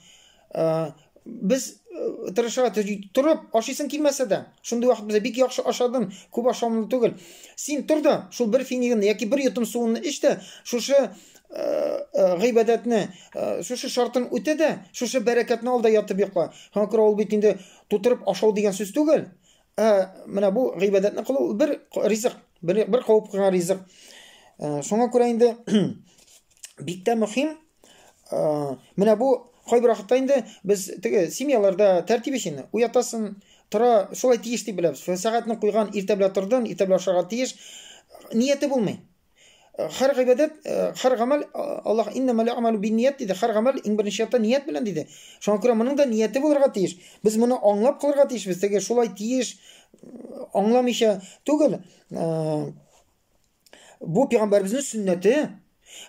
Ә, без э, тырыша торып ашыйсың килмәсә дә шундый вакыт бездә бик яхшы ашадым күп ашамлы түгел син тор да шул бер финигыңны яки бер йотым суыңны эч тә шушы э, э, гыйбадәтне шушы шартын үтә дә шушы бәрәкәтне ал да ятып йокла һәм ул бит инде тутырып ашау дигән сүз түгел Ә менә бу гыйбадәтне кылу бер ризык, бер, бер куып куйган ризык. Ә, шуңа күрә инде бик тә мөһим. Ә, менә бу кайбер вакытта инде без теге семьяларда тәртип өчен уятасын, тора, шулай тиеш дип беләбез. Сәгатьне куйган, иртә белән тордын, иртә белән ашарга тиеш. Нияте булмый. Хәр гыйбадәт, хәр гамәл Аллаһ иннама ләгъмалу бинният диде. Хәр гамәл иң беренче чиратта ният белән диде. Шуңа күрә моның да нияте булырга тиеш. Без моны аңлап кылырга тиешбез. Теге шулай тиеш аңламыйча түгел. Бу пәйгамбәрбезнең сөннәте.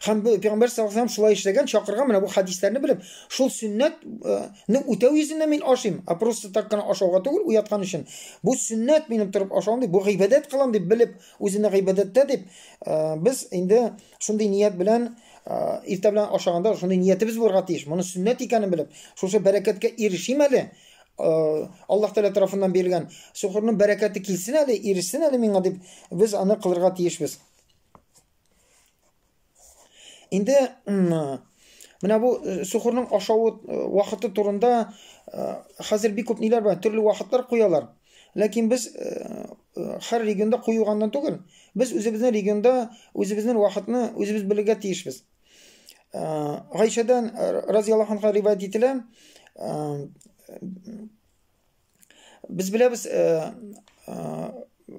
Һәм бу пәйгамбәр саллаллаху алейһи шулай эшләгән, чакырган менә бу хадисларны белеп, шул сөннәтне үтәү йөзендә мин ашыйм. А просто так кына ашауга түгел, уяткан өчен. Бу сөннәт минем торып ашавым дип, бу гыйбадәт кылам дип белеп Үзенә гыйбадәттә дип, без инде шундый ният белән иртә белән ашаганда шундый ниятебез булырга тиеш. Моны сөннәт икәнен белеп, шушы бәрәкәткә ирешим әле. Аллаһ Тәгалә тарафыннан бирелгән сухурның бәрәкәте килсен әле, ирешсен әле миңа дип, без аны кылырга тиешбез. Инде менә бу э, сухурның ашавы э, вакыты турында э, хәзер бик күп ниләр бар, төрле вакытлар куялар. Ләкин без һәр регионда куюганнан түгел, без үзебезнең регионда үзебезнең вакытны үзебез белергә тиешбез. Гайшәдән разияллаһу анха риваять ителә, Без беләбез, э, э,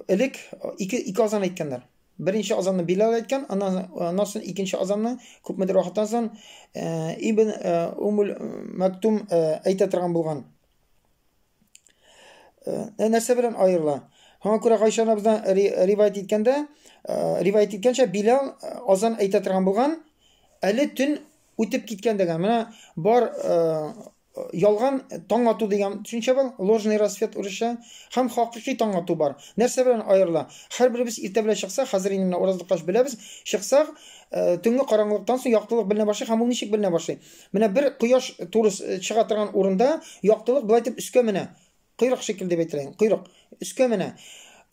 элек ике, ике азан әйткәннәр. Беренче азанны Билал әйткән, аннан соң икенче азанны күпмедер вакыттан соң э, Ибн э, Умул Мәктум э, әйтә торган булган. Э, э нәрсә белән аерыла? Һәм күрә Гайша анабыздан ривайт иткәндә, э, ривайт иткәнчә Билал э, азан әйтә торган булган, әле төн үтеп киткән дигән. Менә бар э, Ялган таң ату дигән төшенчә бар, ложный рассвет урысча, һәм хакыйкый таң ату бар. Нәрсә белән аерыла? Һәрберебез иртә белән чыксак, хәзер инде менә ураз тоткач беләбез, чыксак, төнге караңгылыктан соң яктылык беленә башлый һәм ул ничек беленә башлый? Менә бер кояш туры чыга торган урында яктылык болай итеп өскә менә. Койрык шикелле дип әйтелә. Койрык өскә менә.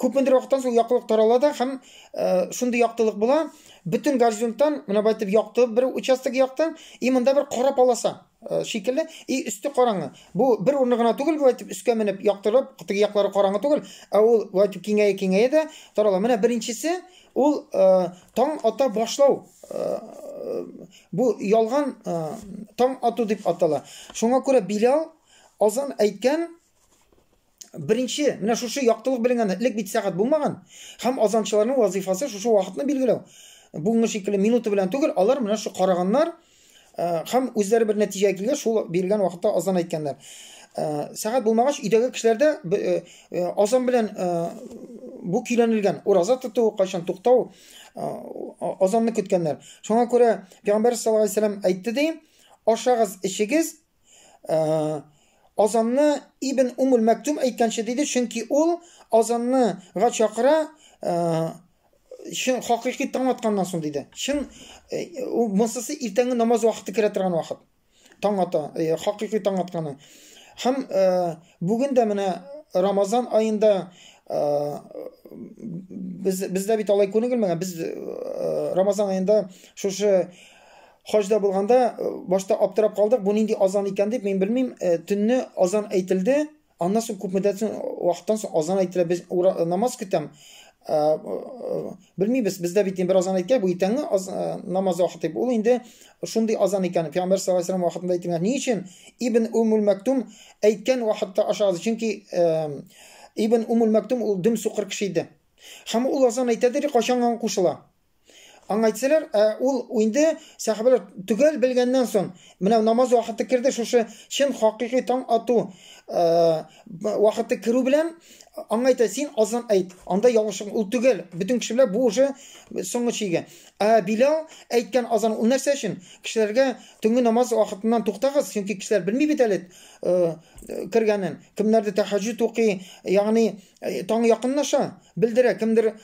Күпмендер вакыттан соң яктылык тарала да һәм э, шундый яктылык була, бөтен горизонттан менә бу итеп якты бер участок якты, и монда бер кара полоса э, шикелле, и өсте караңгы. Бу бер урыны гына түгел, бу итеп өскә менеп яктырып, теге яклары караңгы түгел, ә ул бу итеп киңәя киңәя дә тарала. Менә беренчесе ул э, таң ата башлау бу ялган таң ату дип атала. Шуңа күрә Билал Азан әйткән беренче менә шушы яктылык беленгән элек бит сәгать булмаган һәм азанчыларның вазифасы шушы вакытны билгеләү бүгенге шикелле минуты белән түгел алар менә шу караганнар э, һәм үзләре бер нәтиҗәгә килгән шул бирелгән вакытта азан әйткәннәр э, сәгать булмагач өйдәге кешеләрдә э, азан белән бу көйләнелгән ураза тоту кайчан туктау азанны көткәннәр шуңа күрә пәйгамбәр саллаллаху алейһи әйтте ди ашагыз эчегез Э, азанны Ибн Умул Мәктүм әйткәнче диде, чөнки ул азанны га чакыра, э, чын хакыйкый таң атканнан соң диде. Чын э, монсысы иртәнге намаз вакыты керә торган вакыт. Таң ата, хакыйкый таң атканы. Һәм бүген дә менә Рамазан аенда без бездә бит алай күнегелмәгән. Без Рамазан аенда шушы хаҗда булганда э, башта аптырап калдык, бу нинди азан икән дип, мин белмим, э, төнне азан әйтелде, аннан соң күп мөддәт соң вакыттан соң азан әйтелә, без ура, э, намаз көтәм. Белмибез, бездә бит бер азан әйткән, бу итәңне аз, намаз вакыты. Ул инде шундый азан икән. Пәйгамбер саллаллаһу алейһи ва вакытында әйтелгән. Ни өчен Ибн Умул Мәктум әйткән вакытта ашагыз? Чөнки Ибн Умул Мәктум ул дөм сукыр кеше иде. Һәм ул азан әйтәдер, кайчан кушыла. Аңа әйтсәләр, ә ул инде сәхәбәләр төгәл белгәннән соң, менә намаз вакыты керде, шушы чын хакыйкый таң ату вакыты керү белән аңа әйтә, син азан әйт, анда ялгышың, ул төгәл, бөтен кеше белән бу уже соңгы чиге. Ә Билал әйткән азан ул нәрсә өчен? Кешеләргә төнге намаз вакытыннан туктагыз, чөнки кешеләр белми бит әле кергәнен, кемнәрдер тәһаҗҗүд укый, ягъни Э, таң якынлаша белдерә кемдер э,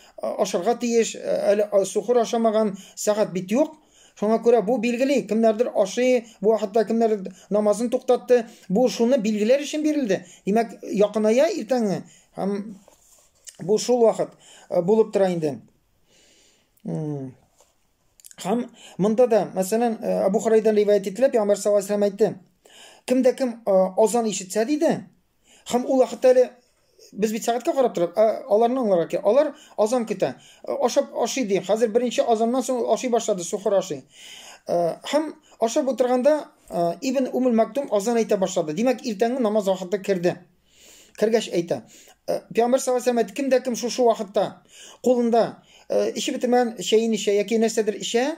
ашарга тиеш э, әле сухыр ашамаган сәгать бит юк шуңа күрә бу билгели кемнәрдер ашый бу хәтта кемнәр намазын туктатты бу шуны билгеләр өчен бирелде димәк якыная иртәңе һәм бу шул вакыт булып тора инде һәм монда да мәсәлән абу хурайдан риваять ителә пәйгамбәр саллаллаху алейһи әйтте кемдә кем азан ишетсә диде Һәм ул вакытта әле без бит сәгатькә карап торабыз, ә аларны аңларга кирәк. Алар азан көтә. Э, ашап ашый ди. Хәзер беренче азаннан соң ашый башлады, сухыр ашый. Э, һәм ашап утырганда э, Ибн Умул Мактум азан әйтә башлады. Димәк, иртәнге намаз вакыты керде. Кергәч әйтә. Пәйгамбер саллаллаху алейһи ва кемдә кем шушы вакытта кулында эчеп бетермәгән чәен ичә яки нәрсәдер ичә,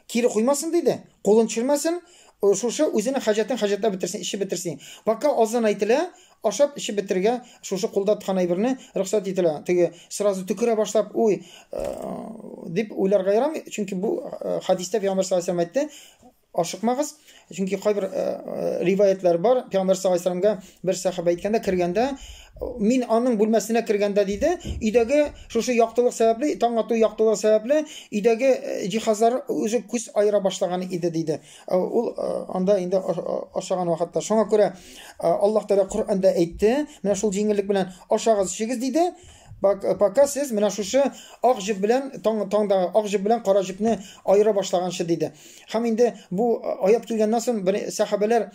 Кире куймасын, диде. Кулын төшермәсен, шушы үзенең хаҗәтен хаҗәтләп бетерсен, эчеп бетерсен. Пока азан әйтелә, ашап, эчеп бетерергә шушы кулда тоткан әйберне рөхсәт ителә. Теге сразу төкерә башлап, уй, дип уйларга ярамый, чөнки бу хәдистә Пәйгамбәр саллаллаһу галәйһи ва сәлләм әйтте, ашыкмагыз, Чөнки кайбер э, э, риваятлар бар, Пәйгамбер саллаллаһу алейһи ва бер сахаба әйткәндә, кергәндә, мин аның бүлмәсенә кергәндә диде, өйдәге шушы яктылык сәбәпле, таң ату яктылыгы сәбәпле, өйдәге э, җиһазлар үзе күз айыра башлаган иде диде. Ул анда инде ашаган вакытта. Шуңа күрә Аллаһ Тәгалә Коръәндә әйтте, менә шул җиңеллек белән ашагыз, чигез диде. Пока сез менә шушы ак җеп белән таң таңдагы ак җеп белән кара җепне аера башлаганчы диде. Һәм инде бу аят килгәннән соң бер сәхабәләр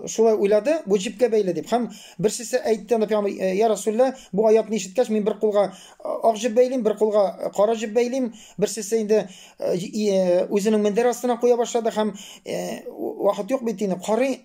шулай уйлады, бу җипкә бәйле дип. Һәм берсесе әйтте, анда пәйгамбер, «Э, "Я Расулла, бу аятны ишеткәч, мин бер кулга ак җип бәйлим, бер кулга кара җип бәйлим". Берсесе инде үзенең мендәр астына куя башлады һәм вакыт юк бит инде, карый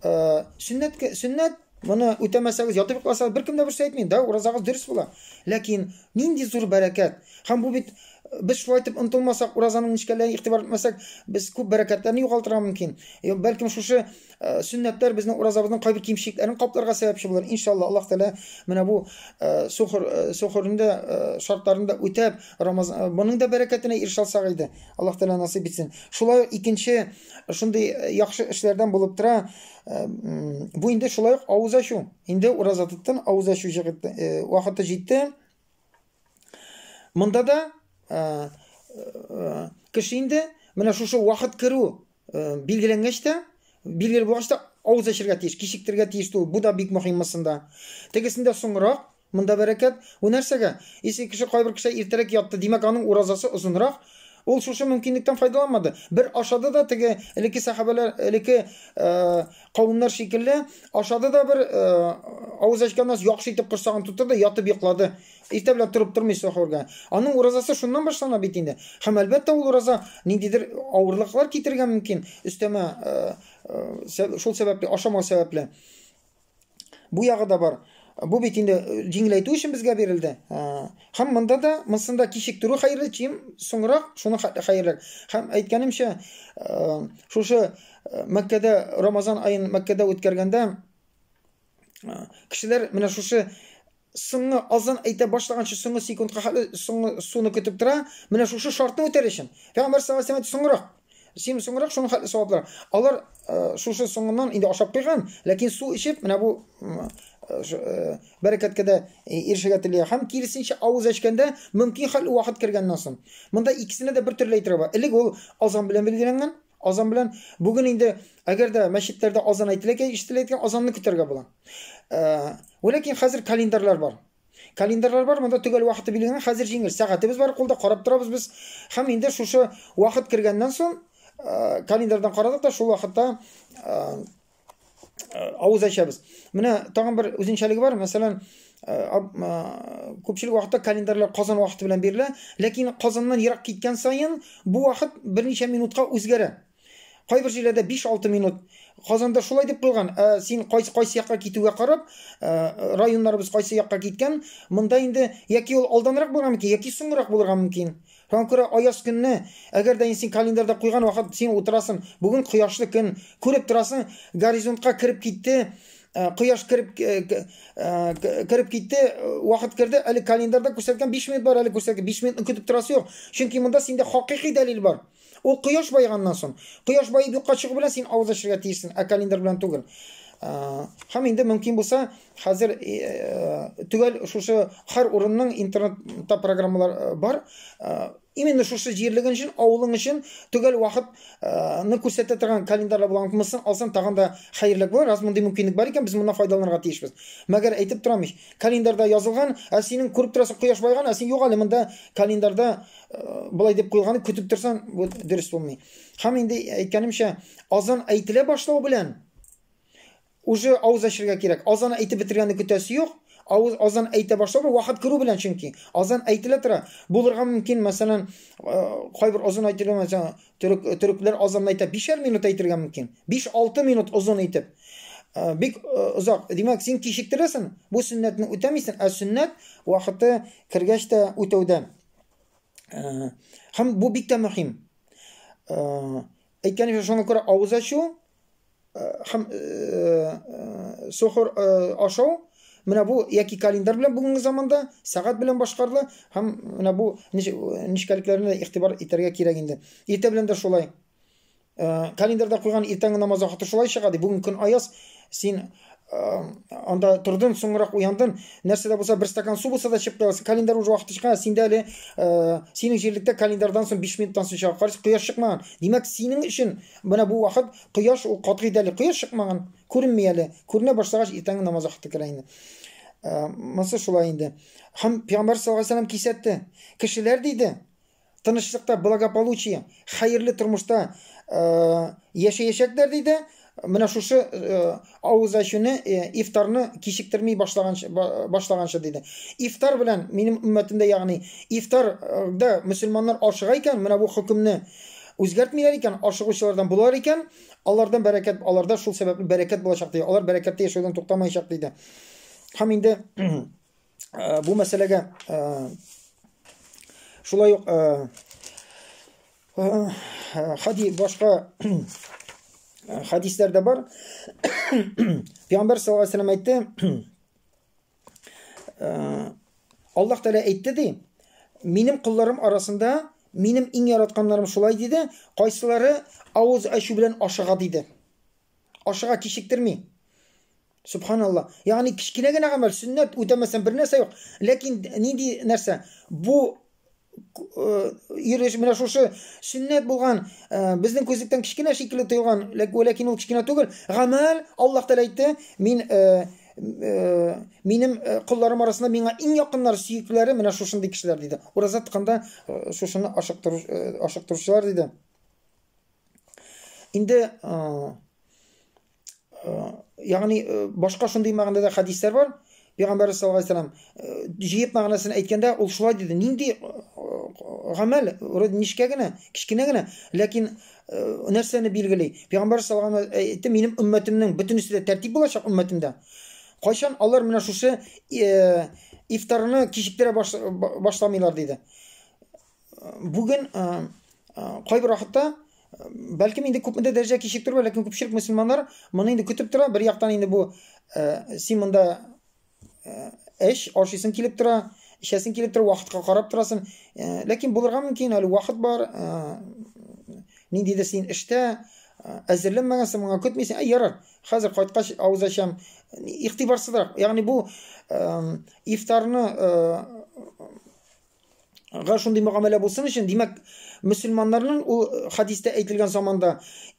Э, сөннәт сөннәт моны үтәмәсәгез ятып йокласагыз беркем дә берсе әйтми да уразагыз дөрес була ләкин нинди зур бәрәкәт һәм бу бит э, без шулай итеп ынтылмасак уразаның нечкәләренә игътибар итмәсәк без күп бәрәкәтләрне югалтырга мөмкин э, бәлкем шушы сөннәтләр безнең уразабызның кайбер кимчелекләрен капларга сәбәпче булыр иншалла аллаһ тәала менә бу сухр сухрында шартларында үтәп рамазан моның да бәрәкәтенә ирешә алсак иде аллаһ тәала насыйп итсен шулай икенче шундый э, яхшы эшләрдән булып тора э, бу инде шулай ук авыз ачу инде ураза тоттын авыз ачу э, вакыты җитте монда да кеше инде менә шушы вакыт керү билгеләнгәч тә билгеле булгач та авыз ачырга тиеш кичектерергә тиеш түгел бу да бик мөһим монда тегесендә соңрак Монда бәрәкәт. Бу нәрсәгә? Исең кеше кайбер кешегә иртәрәк ятты, димәк, аның уразасы озынрак. Ул шушы мөмкинлектән файдаланмады. Бер ашады да, теге элекке сәхабәләр, элекке кавемнәр шикелле, ашады да бер, авыз ачканнан соң яхшы итеп корсагын тутырды, ятып йоклады. Иртә белән торып тормый сәхүргә. Аның уразасы шуннан башлана бит инде. Һәм әлбәттә ул ураза ниндидер авырлыклар китерергә мөмкин, өстәмә шул сәбәпле, ашамау сәбәпле. Бу ягы да бар. Бу бит инде э, җиңеләйтү өчен безгә бирелде. Һәм монда да, монсында кичектерү хәерле, чем соңрак шуны хәерле. Һәм әйткәнемчә, э, шушы э, Мәккәдә Рамазан аен Мәккәдә үткәргәндә кешеләр менә шушы Соңгы азан әйтә башлаганчы соңгы секундка хәтле соңгы суны көтеп тора. Менә шушы шартны үтәр өчен. Пәйгамбәр саллаллаһу алейһи соңрак. Син соңрак шуның хәтле саваплар. Алар э, шушы соңыннан инде ашап куйган, ләкин су эчеп, менә бу э, бәрәкәткә дә э, ирешергә тели. Һәм киресенчә авыз ачканда мөмкин хәл вакыт кергәннән соң. Монда икесенә дә бер төрле әйтергә бар. Элек ул азан белән билгеләнгән, Азан белән бүген инде әгәр дә мәчетләрдә азан әйтелә икән, ишетелә икән, азанны көтәргә була. Э, Ләкин хәзер календарьлар бар. Календарьлар бар, монда төгәл вакыты билгеләнгән. Хәзер җиңел. Сәгатебез бар кулда, карап торабыз без. Һәм инде шушы вакыт кергәннән соң э, календарьдан карадык та шул вакытта э, авыз ачабыз менә тагын бер үзенчәлеге бар мәсәлән күпчелек вакытта календарьлар казан вакыты белән бирелә ләкин казаннан ерак киткән саен бу вакыт берничә минутка үзгәрә кайбер җирләрдә 5-6 минут Казанда шулай дип куелган. Ә син кайсы кайсы якка китүгә карап, ә, районнарыбыз кайсы якка киткән, монда инде яки ул алданрак булырга мөмкин, яки соңрак булырга мөмкин. Таң күрә аяз көнне, әгәр дә инде син календарьда куйган вакыт син утырасың, бүген кояшлы көн, күреп торасың, горизонтка кереп китте, э, кояш кереп э, э, кереп китте, вакыт керде, әле календарьда күрсәткән 5 минут бар, әле күрсәткән 5 минутны көтеп торасы юк. Чөнки монда синдә хакыйкый дәлил бар. Ул кояш байганнан соң, кояш баеп юкка чыгу белән син авыз ачырга тиешсең, ә календарь белән түгел. Һәм инде мөмкин булса, Хәзер төгәл шушы хар урынның интернетта программалар бар. Именно шушы җирлеген өчен, авылың өчен төгәл вакытны күрсәтә торган календарьлар булган булсын, алсаң тагын да хәерлерәк булыр. Раз мондый мөмкинлек бар икән, без моннан файдаланырга тиешбез. Мәгәр әйтеп торам ич, календарьда язылган, ә синең күреп торасың кояш байган, ә син юк әле монда календарьда болай дип куелган, көтеп торсаң, бу дөрес булмый. Һәм инде әйткәнемчә, азан әйтелә башлау белән Уже авыз ачырга кирәк. Азан әйтеп бетергәнне көтәсе юк. Авыз азан әйтә башлау вакыт керү белән чөнки. Азан әйтелә тора. Булырга мөмкин, мәсәлән, кайбер озын әйтергә мәсәлән, төрек төрекләр азан әйтә бишәр минут әйтергә мөмкин. 5-6 минут озын итеп. Бик озак. Димәк, син кичектерәсең, бу сөннәтне үтәмисең, ә сөннәт вакыты кергәч тә үтәүдә. Һәм бу бик тә мөһим. Әйткәнемчә, шуңа күрә авыз ачу һәм сохор ашау менә бу яки календарь белән бүгенге заманда сәгать белән башкарыла һәм менә бу нечкәлекләренә игътибар итәргә кирәк инде. Иртә белән дә шулай. Календарьда куйган иртәнге намаз вакыты шулай чыга ди. Бүген көн аяз, син анда тордым, соңрак уяндым. Нәрсә дә булса, бер стакан су булса да чыгып торасы. Календарь уже вакыт чыккан, синдә әле э, синең җирлектә календарьдан соң 5 минуттан соң чыга. Карыйс, кояш чыкмаган. Димәк, синең өчен менә бу вакыт кояш ул катгый дәли. Кояш чыкмаган, күренми әле. Күренә башлагач, иртәнге намаз вакыты керә инде. Э, монысы шулай инде. Һәм Пәйгамбәр саллаллаху алейһи кисәтте. Кешеләр диде, тынычлыкта, благополучие, хәерле тормышта яшәячәкләр диде. Менә шушы авыз ачуны, ифтарны кичектерми башлаганчы башлаганчы диде. Ифтар белән минем өммәтемдә, ягъни ифтарда мөселманнар ашыга икән, менә бу хөкемне үзгәртмиләр икән, ашыгучылардан булар икән, алардан бәрәкәт, аларда шул сәбәпле бәрәкәт булачак диде. Алар бәрәкәттә яшәүдән туктамаячак диде. Һәм инде ә, бу мәсьәләгә ә, шулай ук ә, ә, хади башка хадисләрдә бар пәйгамбәр саллаллаху алейхи вәсәләм әйтте аллаһ тәгалә әйтте ди минем кулларым арасында минем иң яратканнарым шулай диде кайсылары авыз ачу белән ашыга диде Ашыга кичектерми. Субханалла. Ягъни кечкенә генә гамәл, сөннәт үтәмәсәң бер нәрсә юк. Ләкин нинди нәрсә? Бу иреш менә шушы сөннәт булган безнең күзлектән кечкенә шикелле тоелган ләкин ул кечкенә түгел гамәл аллаһ тәала әйтте мин минем колларым арасында миңа иң якыннар сөекләре менә шушындый кешеләр диде ураза тотканда шушыны ашыктыручылар диде Инде ягъни башка шундый мәгънәдә дә хәдисләр бар. Пәйгамбәр саллаллаһу алейһи вәсәлләм җыеп мәгънәсен әйткәндә ул шулай диде. Нинди гамәл, вроде нечкә генә, кечкенә генә, ләкин нәрсәне билгели? Пәйгамбәр саллаллаһу алейһи вәсәлләм әйтте, минем өммәтемнең бөтенесе дә тәртип булачак өммәтемдә. Кайчан алар менә шушы ифтарны кичектерә башламыйлар диде. Бүген кайбер вакытта бәлкем инде күпмедер дәрәҗә кичектер, ләкин күпчелек мөселманнар моны инде көтеп тора. Бер яктан инде бу син монда эш ашыйсың килеп тора, эчәсең килеп тора, вакытка карап торасың. Ләкин булырга мөмкин, әле вакыт бар. Ниндидер син эштә әзерләнмәгәнсең, моңа көтмисең. Ә ярар, хәзер кайткач авыз ачам. Игътибарсызрак. Ягъни бу ифтарны га шундый мөгамәлә булсын өчен, димәк, мөселманнарның ул э, хадистә әйтелгән заманда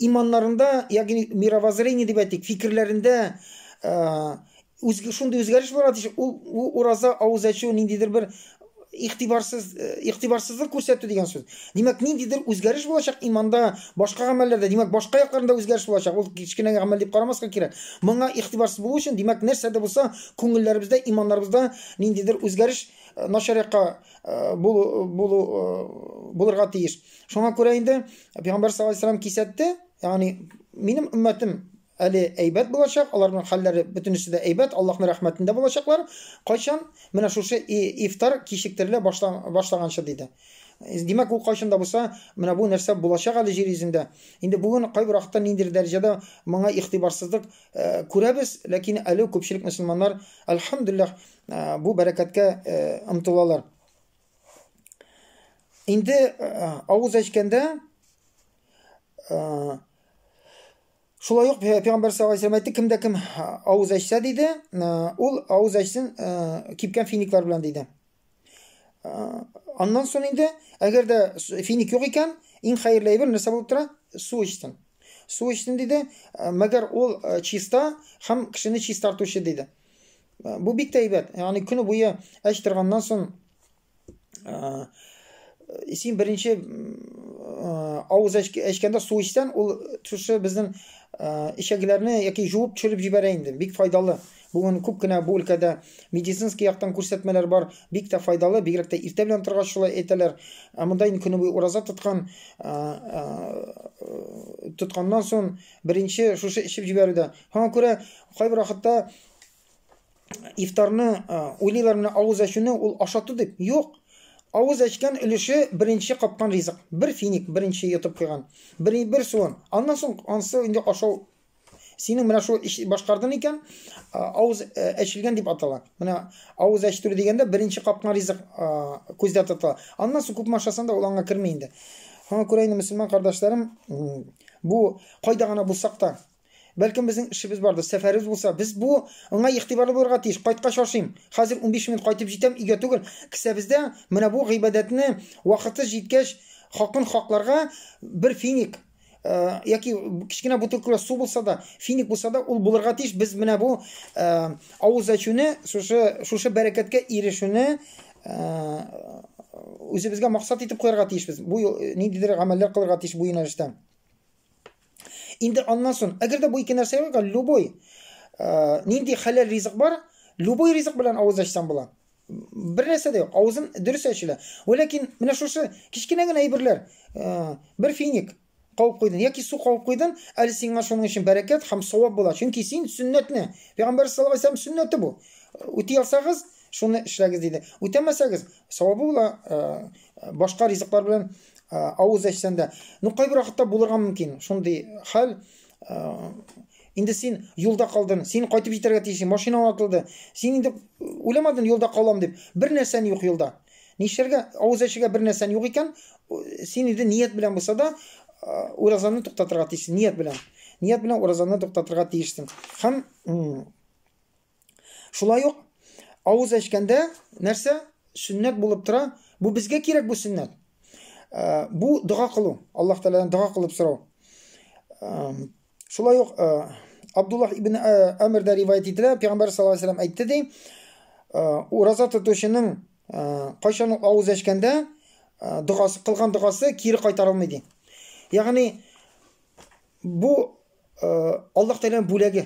иманнарында, ягъни мировоззрение дип әйтик, фикерләрендә э, үз шундый үзгәреш булырга тиеш. Ул, ул ураза авыз ачу ниндидер бер игътибарсыз э, игътибарсызлык күрсәтү дигән сүз. Димәк, ниндидер үзгәреш булачак иманда, башка гамәлләрдә, димәк, башка якларында үзгәреш булачак. Ул кечкенә гамәл дип карамаска кирәк. Моңа игътибарсыз булу өчен, димәк, нәрсә дә булса, күңелләребездә, иманнарыбызда ниндидер үзгәреш Э, начар якка э, булу булырга тиеш. Шуңа күрә инде Пәйгамбәр саллаллаһу алейһи вәсәлләм кисәтте, ягъни минем өммәтем әле әйбәт булачак, аларның хәлләре бөтенесе дә әйбәт, Аллаһның рәхмәтендә булачаклар. Кайчан менә шушы ифтар кичектерелә башлаганчы диде. Э, димәк, ул кайчан да булса, менә бу нәрсә булачак әле җир йөзендә. Инде бүген кайбер вакытта ниндидер дәрәҗәдә моңа игътибарсызлык э, күрәбез, ләкин әле күпчелек мөселманнар, альхамдулиллах, бу бәрәкәткә омтылалар. Инде авыз әчкәндә шулай ук пәйгамбәр саллаллаху алейһи әйтте, кемдә кем авыз әчсә диде, ул авыз әчсен кипкән финиклар белән диде. Аннан соң инде, әгәр дә финик юк икән, иң хәерле әйбер нәрсә булып тора? Су эчсен. Су эчсен диде, мәгәр ул чиста һәм кешене чистартучы диде. Бу бик тә әйбәт. Ягъни көне буе эш торганнан соң син беренче авыз эчкәндә су эчсәң, ул шушы безнең ишәкләрне яки жуып төшереп җибәрә инде. Бик файдалы. Бүген күп кенә бу өлкәдә медицинский яктан күрсәтмәләр бар. Бик тә файдалы, бигрәк тә иртә белән торгач шулай әйтәләр. Ә монда инде көне буе ураза тоткан, тотканнан соң беренче шушы эчеп җибәрүдә. Һәм күрә кайбер вакытта ифтарны уйлыйлар менә авыз ачуны ул ашату дип юк авыз ачкан өлеше беренче капкан ризык бер финик беренче йотып куйган бер, бер суын аннан соң ансы инде ашау синең менә шул эш башкардың икән авыз әчелгән дип атала менә авыз әчтерү дигәндә беренче капкан ризык күздә тотыла аннан соң күпме ашасаң да ул аңа керми инде шуңа күрә инде мөселман кардәшләрем бу кайда гына булсак та Бәлкем безнең эшебез бардыр, сәфәребез булса, без бу аңа игътибарлы булырга тиеш. Кайткач ашыйм. Хәзер 15 минут кайтып җитәм, өйгә түгел. Кесәбездә менә бу гыйбадәтне вакыты җиткәч хакын хакларга бер финик Э, яки кечкенә бутылкалар су булса да финик булса да ул булырга тиеш без менә бу э, авыз ачуны шушы шушы бәрәкәткә ирешүне э, үзебезгә максат итеп куярга тиешбез бу ниндидер гамәлләр кылырга тиеш бу юнәлештә Инде аннан сон, әгәр дә бу ике нәрсә юкка, любой э, нинди хәләл ризык бар, любой ризык белән авыз ачсаң була. Бер нәрсә дә юк, авызын дөрес ачыла. Ләкин менә шушы кечкенә генә әйберләр, э, бер финик кабып куйдың яки су кабып куйдың, әле сиңа шуның өчен бәрәкәт һәм савап була. Чөнки син сөннәтне, пәйгамбәр саллаллаһу алейһи ва сәлләм сөннәте бу. Үти алсагыз, шуны эшләгез диде. Үтәмәсәгез, савабы була, э, башка ризыклар белән авыз әчсән дә ну кайбер вакытта булырга мөмкин шундый хәл инде син юлда калдың син кайтып җитәргә тиеш машина атылды син инде уйламадың юлда калам дип бер нәрсән юк юлда нишләргә авыз әчергә бер нәрсән юк икән син инде ният белән булса да уразаны туктатырга тиешсең ният белән ният белән уразаны туктатырга тиешсең һәм Шулай ук авыз әчкәндә нәрсә? Сөннәт булып тора. Бу безгә кирәк бу сөннәт. Э, бу дога кылу. Аллаһ Тәгаләдән дога кылып сорау. Э, шулай ук э, Абдуллах ибн Әмирдә риваять ителә, Пәйгамбәр саллаллаһу алейһи вәсәлләм әйтте ди, ураза тотучының кайчан авыз әчкәндә догасы кылган догасы кире кайтарылмый ди. Ягъни бу Аллаһ Тәгаләнең бүләге.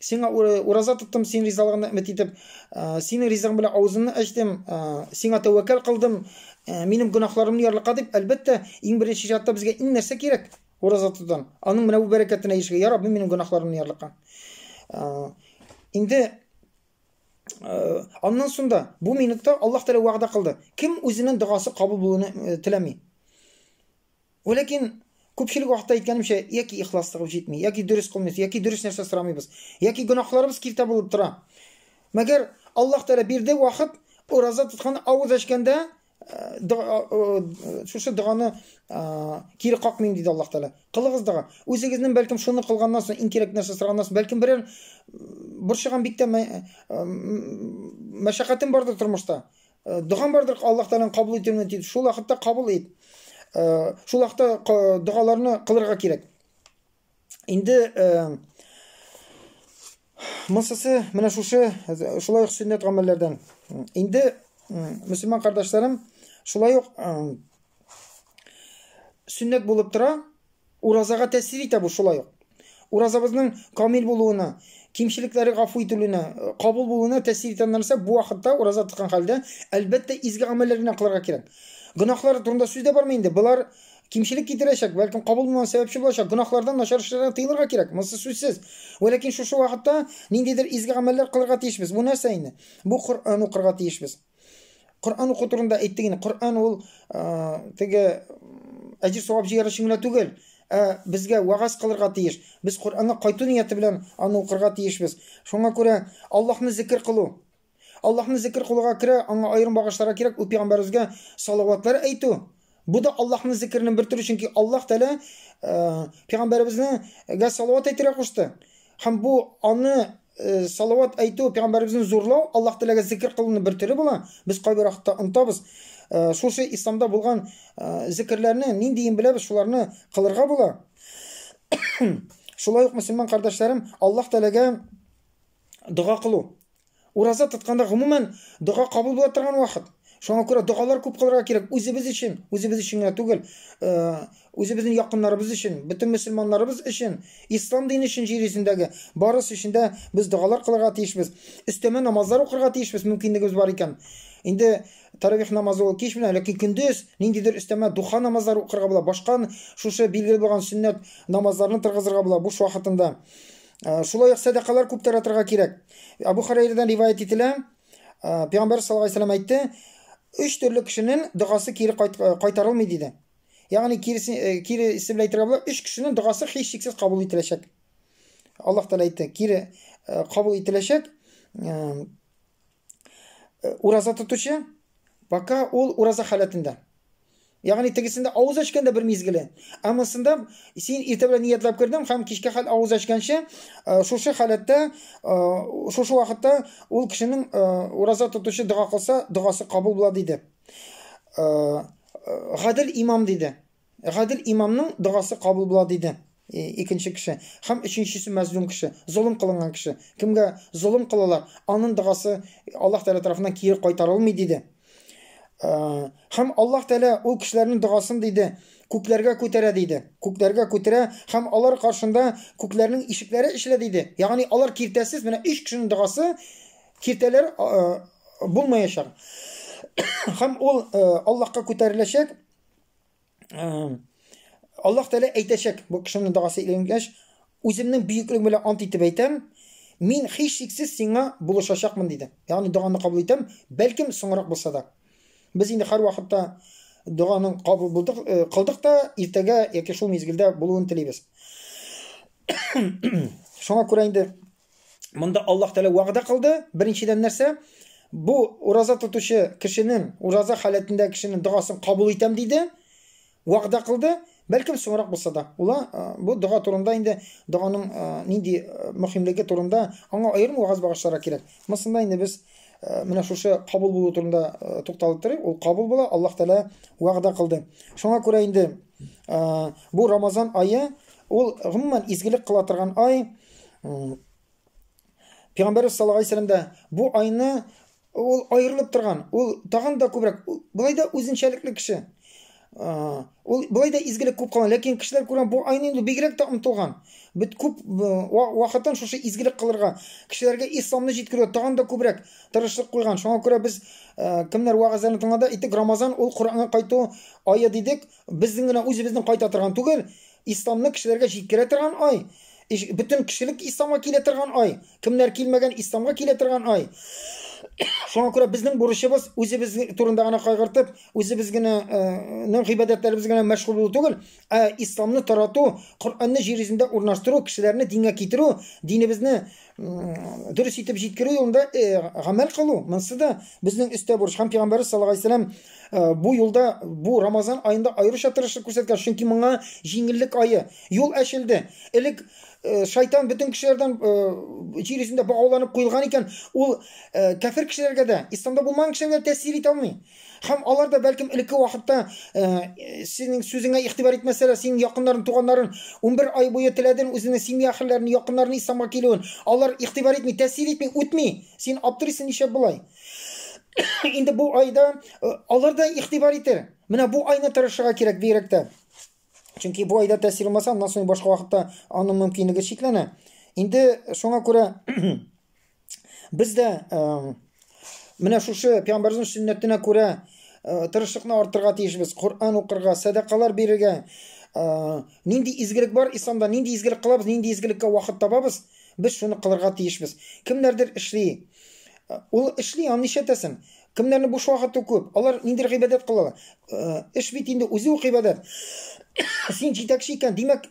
сиңа ураза тоттым, син ризалыгыңны өмет итеп, синең ризыгың белән авызымны ачтым, сиңа тәвәккәл кылдым, минем гөнаһларымны ярлыкка дип, әлбәттә, иң беренче чатта безгә иң нәрсә кирәк? Ураза тотудан. Аның менә бу бәрәкәтенә ишегә, я Рабби, минем гөнаһларымны ярлыкка. Инде аннан соң бу минутта Аллаһ Тәгалә вәгъдә кылды. Кем үзенең догасы кабул булуны теләми? Вә ләкин, күпчелек вакытта әйткәнемчә, яки ихласлыгыбыз җитми, яки дөрес кылмыйбыз, яки дөрес нәрсә сорамыйбыз, яки гөнаһларыбыз киртә булып тора. Мәгәр Аллаһ Тәгалә бирде вакыт, ураза тоткан, авыз ачканда, шушы доганы кире какмыйм, диде Аллаһ Тәгалә. Кылыгыз дога. Үзегезнең бәлкем шуны кылганнан соң, иң кирәк нәрсә сораганнан соң, бәлкем берәр борчыган бик тә мәшәкатем бардыр тормышта. Догам бардыр Аллаһ Тәгаләнең кабул итүеннән дип, шул вакытта кабул ит. Шул вакытта догаларны кылырга кирәк. Инде Мысысы менә шушы шулай ук сөннәт гамәлләрдән. Инде мөселман кардәшләрем шулай ук сөннәт булып тора, Уразага тәэсир итә бу шулай ук. Уразабызның камил булуына, кимчелекләре гафу ителүенә, кабул булуына тәэсир итә нәрсә, бу вакытта ураза тоткан хәлдә, әлбәттә, изге гамәлләр генә кылырга кирәк. Гөнаһлар турында сүз дә бармый инде, болар кимчелек китерәчәк, бәлкем кабул булмаган сәбәпче булачак, гөнаһлардан, начар эшләрдән тыелырга кирәк, монсы сүзсез. Вә ләкин шушы вакытта ниндидер изге гамәлләр кылырга тиешбез. Бу нәрсә инде? Бу Коръән укырга тиешбез. Коръән уку турында әйттек инде. Коръән ул теге әҗир савап җыяр өчен генә түгел, ә безгә вагаз кылырга тиеш. Без Коръәнгә кайту нияте белән аны укырга тиешбез. Шуңа күрә Аллаһны зикр кылу. Аллаһны зикр кылуга керә, аңа аерым багышларга кирәк, ул пәйгамбәребезгә салаватлар әйтү, Бу да Аллаһның зикереннән бер төре, чөнки Аллаһ Тәгалә пәйгамбәребезгә салават әйтергә кушты. Һәм бу аны салават әйтү, пәйгамбәребезне зурлау Аллаһ Тәгаләгә зикер кылуның бер төре була. Без кайбер вакытта онтабыз. Шушы исламда булган зикерләрне ниндиен беләбез, шуларны кылырга була. Шулай ук мөселман кардәшләрем Аллаһ Тәгаләгә Дога кылу. Ураза тотканда, гомумән, дога кабул була торган вакыт. Шуңа күрә догалар күп кылырга кирәк. Үзебез өчен, үзебез өчен генә түгел, э, үзебезнең якыннарыбыз өчен, бөтен мөселманнарыбыз өчен, ислам дине өчен җир йөзендәге барысы өчен дә без догалар кылырга тиешбез. Өстәмә намазлар укырга тиешбез, мөмкинлегебез бар икән. Инде таравих намазы ул кич белән, ләкин көндез ниндидер өстәмә духа намазлары укырга була, башка шушы билгеле булган сөннәт намазларны торгызырга була буш вакытында. Э, шулай ук сәдакалар күп таратырга кирәк. Абу Хәрәйрәдән риваять ителә, э, Пәйгамбәр саллаллаху алейһи вәсәлләм әйтте, өч төрле кешенең догасы кире э, кайтарылмый диде. Ягъни кире кире исем белән әйтергә була, өч кешенең догасы һичшиксез кабул ителәчәк. Аллаһ Тәгалә әйтте, кире кабул ителәчәк. ураза тотучы, пока ул ураза халәтендә. Ягъни тегесендә авыз ачканда бер мизгеле. Ә монсында син иртә белән ниятләп кердең һәм кичкә хәл авыз ачканчы шушы халәттә, шушы вакытта ул кешенең ураза тотучы дога кылса, догасы кабул була диде. Гадел имам диде. Гадел имамның догасы кабул була, диде икенче кеше. Һәм өченчесе мәзлум кеше, золым кылынган кеше. Кемгә золым кылалар, анын догасы Аллаһ Тәгалә тарафыннан кире кайтарылмый, диде. Һәм Аллаһ Тәгалә ул кешеләрнең догасын диде, күкләргә күтәрә, диде. Күкләргә күтәрә һәм алар каршында күкләрнең ишекләре эчелә, диде. Ягъни алар киртәсез, менә өч кешенең догасы киртәләр булмаячак. Һәм ул Аллаһка күтәреләчәк. Аллаһ Тәгалә әйтәчәк, бу кешенең догасы иленгәч, үземнең бөеклегем белән ант итеп әйтәм, мин һичшиксез сиңа булышачакмын диде. Ягъни доганы кабул итәм, бәлкем соңрак булса да. Без инде һәр вакытта доганың кабул булдык, э, кылдык та, иртәгә яки шул мизгелдә булуын телибез. Шуңа күрә инде Монда Аллаһ Тәгалә вәгъдә кылды. Беренчедән нәрсә? Бу ураза тотучы кешенең, ураза халәтендә кешенең догасын кабул итәм диде. Вәгъдә кылды. Бәлкем соңрак булса да. Ула бу дога турында инде доганың нинди мөхимлеге турында аңа аерым вагаз багышларга кирәк. Монда инде без менә шушы кабул булу турында тукталып торыйк. Ул кабул була, Аллаһ Тәгалә вәгъдә кылды. Шуңа күрә инде бу Рамазан ае ул гомумән изгелек кыла торган ай. Пәйгамбәрбез саллаллаһу алейһи вәсәлләм дә бу айны ул аерылып торган, ул тагын да күбрәк, болай да үзенчәлекле кеше. Ул болай да изгелек күп кылган, ләкин кешеләр күргән бу айны инде бигрәк тә омтылган. Бит күп вакытын шушы изгелек кылырга, кешеләргә исламны җиткерүгә тагын да күбрәк тырышлык куйган. Шуңа күрә без кемнәр вагазларын тыңлада, әйтик, Рамазан ул Коръәнгә кайту ае дидек. Безнең генә үзебезнең кайта торган түгел, исламны кешеләргә җиткерә торган ай. Иш- Бөтен кешелек исламга килә торган ай. Кемнәр килмәгән, исламга килә торган ай. Шуңа күрә безнең бурычыбыз үзебез турында гына кайгыртып, үзебез генә э, нең гыйбадәтләребез генә мәшгуль булу түгел, ә исламны тарату, Коръәнне җир йөзендә урнаштыру, кешеләрне дингә китерү, динебезне дөрес итеп җиткерү юлында э, гамәл кылу монысы да безнең өстә бурыч һәм пәйгамбәрбез саллаллаху алейһи вәсәләм э, бу юлда бу рамазан аенда аеруча тырышлык күрсәткән чөнки моңа җиңеллек ае юл ачылды элек э, шайтан бөтен кешеләрдән җир йөзендә багауланып куелган икән ул кәфер кешеләргә дә исламда булмаган кешеләргә тәэсир итә алмый Һәм алар да, бәлкем, элекке вакытта, синең сүзеңә игътибар итмәсәләр, синең якыннарын, туганнарын унбер ай буе теләден, үзенең семья әхелләрен, якыннарын исламга килүен. Алар игътибар итми, тәэсир итми, үтми. Син аптырыйсың, нишләп болай? Инде бу айда алар да игътибар итер. Менә бу айны тырышырга кирәк бигрәк тә. Чөнки бу айда тәэсир булмаса, аннан соң башка вакытта аның мөмкинлеге чикләнә. Инде шуңа күрә Без дә э, менә шушы пәйгамбәрнең сөннәтенә күрә э, тырышлыкны артырга тиешбез. Коръән укырга, садакалар бирергә. Э, нинди изгелек бар исламда, нинди изгелек кылабыз, нинди изгелеккә вакыт табабыз, без шуны кылырга тиешбез. Кемнәрдер эшли. Ул эшли, аны нишләтәсең? Кемнәрнең буш вакыты күп, алар нинди гыйбадәт кылалар? Эш бит инде үзе үк гыйбадәт. Син җитәкче икән, димәк,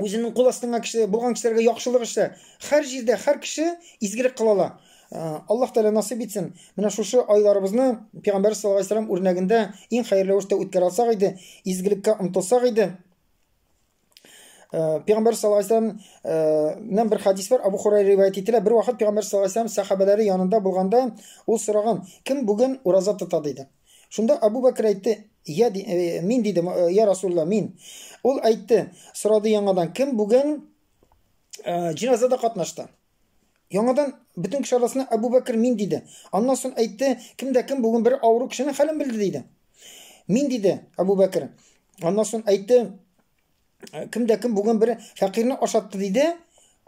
үзенең кул астыңа кеше булган кешеләргә яхшылык эшлә. Хәр җирдә хәр кеше изгелек кыла ала. Э, Аллаһ Тәгалә насыйп итсен. Менә шушы айларыбызны Пәйгамбәр саллаллаһу алейһи вәсәлләм үрнәгендә иң хәерле рәвештә үткәрә алсак иде, изгелеккә омтылсак иде. Э, Пәйгамбәр саллаллаһу алейһи вәсәлләм э, нәм бер хадис бар, Абу Хурайра риваять ителә. Бер вакыт Пәйгамбәр саллаллаһу алейһи вәсәлләм сахабәләре янында булганда, ул сораган, кем бүген ураза тота диде. Шунда Абу Бәкер әйтте, я, ди, э, мин диде, э, я Расулла, мин. Ул әйтте, сорады яңадан, кем бүген э, җиназада катнашты? Яңадан бөтен кеше арасына Абу Бәкер мин диде. Аннан соң әйтте, кем дә кем бүген бер авыру кешенең хәлен белде диде. Мин диде Абу Бәкер. Аннан соң әйтте, кем дә кем бүген бер фәкыйрьне ашатты диде.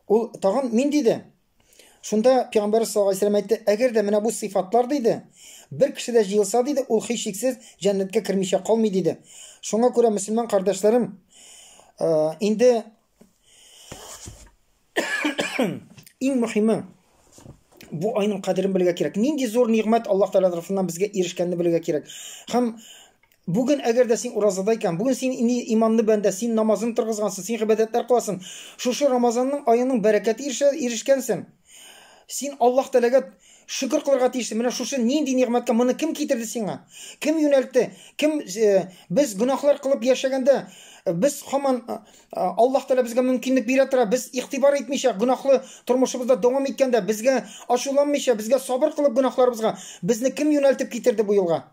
Ул тагын мин диде. Шунда Пәйгамбәр саллаллаһу алейһи вәсәлләм әйтте, әгәр дә менә бу сыйфатлар диде, бер кешедә җыелса диде, ул һичшиксез җәннәткә кермичә калмый диде. Шуңа күрә мөселман кардәшләрем, э, инде иң мөһиме бу айның кадерен белергә кирәк. Нинди зур нигъмәт Аллаһ Тәгалә тарафыннан безгә ирешкәнне белергә кирәк. Һәм Бүген, әгәр дә син уразада икән, бүген син ин иманлы бәндә, син намазын торгызгансың, син гыйбадәтләр кыласың, шушы Рамазанның аеның бәрәкәте ирешә, ирешкәнсең, син Аллаһ Тәгаләгә шөкер кылырга тиешсең, менә шушы нинди нигъмәткә, моны кем китерде сиңа? Кем юнәлтте? Кем э, без гөнаһлар кылып яшәгәндә, без хаман э, Аллаһ Тәгалә безгә мөмкинлек бирә тора, без игътибар итмичә, гөнаһлы тормышыбызда дәвам иткәндә, безгә ачуланмыйча, безгә сабыр кылып гөнаһларыбызга, безне кем юнәлтеп китерде бу юлга?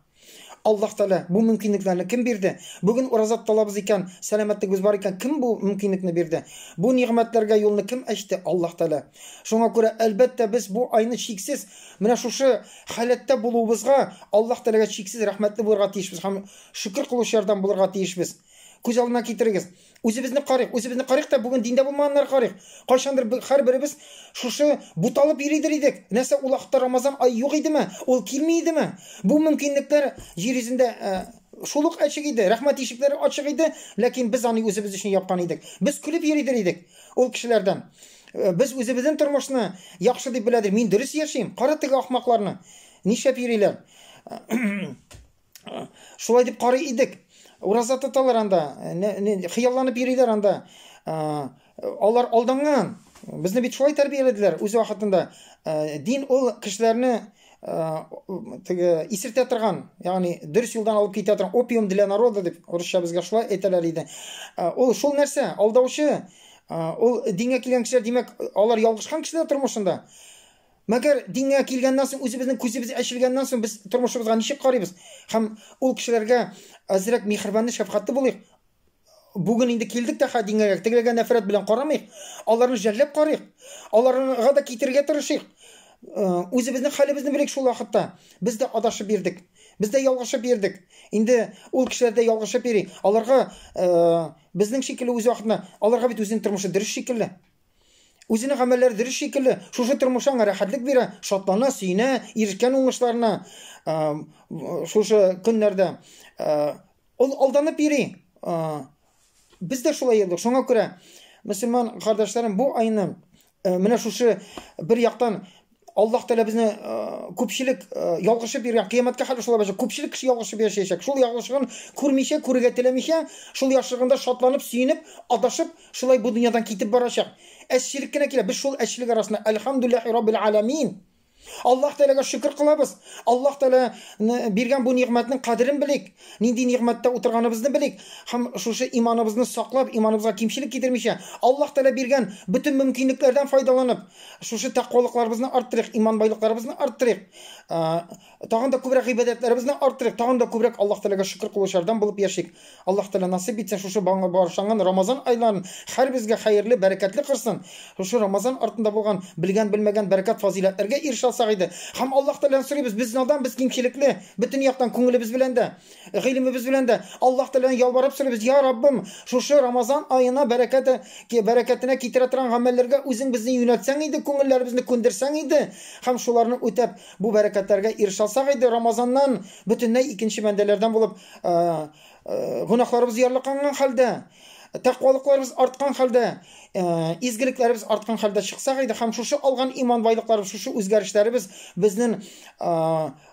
Аллаһ Тәгалә бу мөмкинлекләрне кем бирде? Бүген ураза тоталабыз икән, сәламәтлегебез бар икән, кем бу мөмкинлекне бирде? Бу нигъмәтләргә юлны кем ачты? Аллаһ Тәгалә. Шуңа күрә, әлбәттә, без бу айны чиксез, менә шушы халәттә булуыбызга Аллаһ Тәгаләгә чиксез рәхмәтле булырга тиешбез һәм шөкер кылучылардан булырга тиешбез. Күз алдына китерегез, Үзебезне карыйк, үзебезне карыйк та бүген диндә булмаганнар карыйк. Кайчандыр һәрберебез шушы буталып йөридер идек. Нәрсә ул вакытта Рамазан ай юк идеме? Ул килми идеме? Бу мөмкинлекләр җир йөзендә э, шул ук ачык иде, рәхмәт ишекләре ачык иде, ләкин без аны үзебез өчен япкан идек. Без көлеп йөридер идек ул кешеләрдән. Э, без үзебезнең тормышны яхшы дип беләдер. Мин дөрес яшим. Кара теге ахмакларны. Нишләп йөриләр? шулай дип карый идек. Ураза тоталар анда, хыялланып йөриләр анда. Алар алданган. Безне бит шулай тәрбияләделәр үз вакытында. Дин ул кешеләрне теге исертә торган, ягъни дөрес юлдан алып китә торган опиум для народа дип урысча безгә шулай әйтәләр иде. Ул шул нәрсә, алдаучы. Ул дингә килгән кешеләр, димәк, алар ялгышкан кешеләр тормышында. Мәгәр дингә килгәннән соң, үзебезнең күзебез ачылганнан соң, без тормышыбызга ничек карыйбыз? Һәм ул кешеләргә әзрәк михербанлы, шәфкатьле булыйк. Бүген инде килдек тә хә дингә, тегеләргә нәфрәт белән карамыйк, аларны жәлләп карыйк, аларга да китерергә тырышыйк. Үзебезнең хәлебезне белик шул вакытта. Без дә адашып йөрдек. Без дә ялгышып йөрдек. Инде ул кешеләр дә ялгышып йөри. Аларга безнең шикелле үз вакытында, аларга бит үзенең тормышы дөрес шикелле. Үзенең гамәлләре дөрес шикелле, шушы тормыш аңа рәхәтлек бирә, шатлана, сөенә, ирешкән уңышларына шушы көннәрдә ул алданып йөри. Без дә шулай йөрдек. Шуңа күрә, мөселман кардәшләрем, бу айны менә шушы бер яктан Аллаһ Тәгалә безне э, күпчелек э, ялгышып йөргән кыямәткә хәл шулай булачак. Күпчелек кеше ялгышып яшәячәк. Шул ялгышын күрмичә, күрергә теләмичә, шул яхшылыгында шатланып, сөенеп, адашып, шулай бу дөньядан китеп барачак. Әччелек кенә килә. Без шул әччелек арасында Альхамдулиллахи Раббил Аламин. Аллаһ Тәгаләгә шөкер кылабыз. Аллаһ Тәгалә биргән бу нигъмәтнең кадерен белик. Нинди нигъмәттә утырганыбызны белик һәм шушы иманыбызны саклап, иманыбызга кимчелек китермичә, Аллаһ Тәгалә биргән бөтен мөмкинлекләрдән файдаланып, шушы тәкъвалыкларыбызны арттырыйк, иман байлыкларыбызны арттырыйк, тагын да күбрәк гыйбадәтләребезне арттырыйк, тагын да күбрәк Аллаһ Тәгаләгә шөкер кылучылардан булып яшик. Аллаһ Тәгалә насыйп итсен, шушы багышланган Рамазан айларын һәрбезгә хәерле, бәрәкәтле кылсын. Шушы Рамазан артында булган белгән-белмәгән бәрәкәт-фазыйләтләргә ирешә алсак иде. Һәм Аллаһ Тәгаләдән сорыйбыз, без надан, без кимчелекле. Бөтен яктан күңелебез белән дә, гыйлемебез белән дә Аллаһ Тәгаләне ялварып сорыйбыз, я Раббым, шушы Рамазан аена бәрәкәте, бәрәкәтенә китерә торган гамәлләргә үзең безне юнәлтсәң иде, күңелләребезне күндерсәң иде һәм шуларны үтәп, бу бәрәкәтләргә ирешә алсак иде, Рамазаннан бөтенләй икенче бәндәләрдән булып, э, э, гөнаһларыбыз ярлыканган хәлдә, тәкъвалыкларыбыз арткан хәлдә, э, изгелекләребез арткан хәлдә чыксак иде һәм шушы алган иман байлыкларыбыз, шушы үзгәрешләребез безнең э,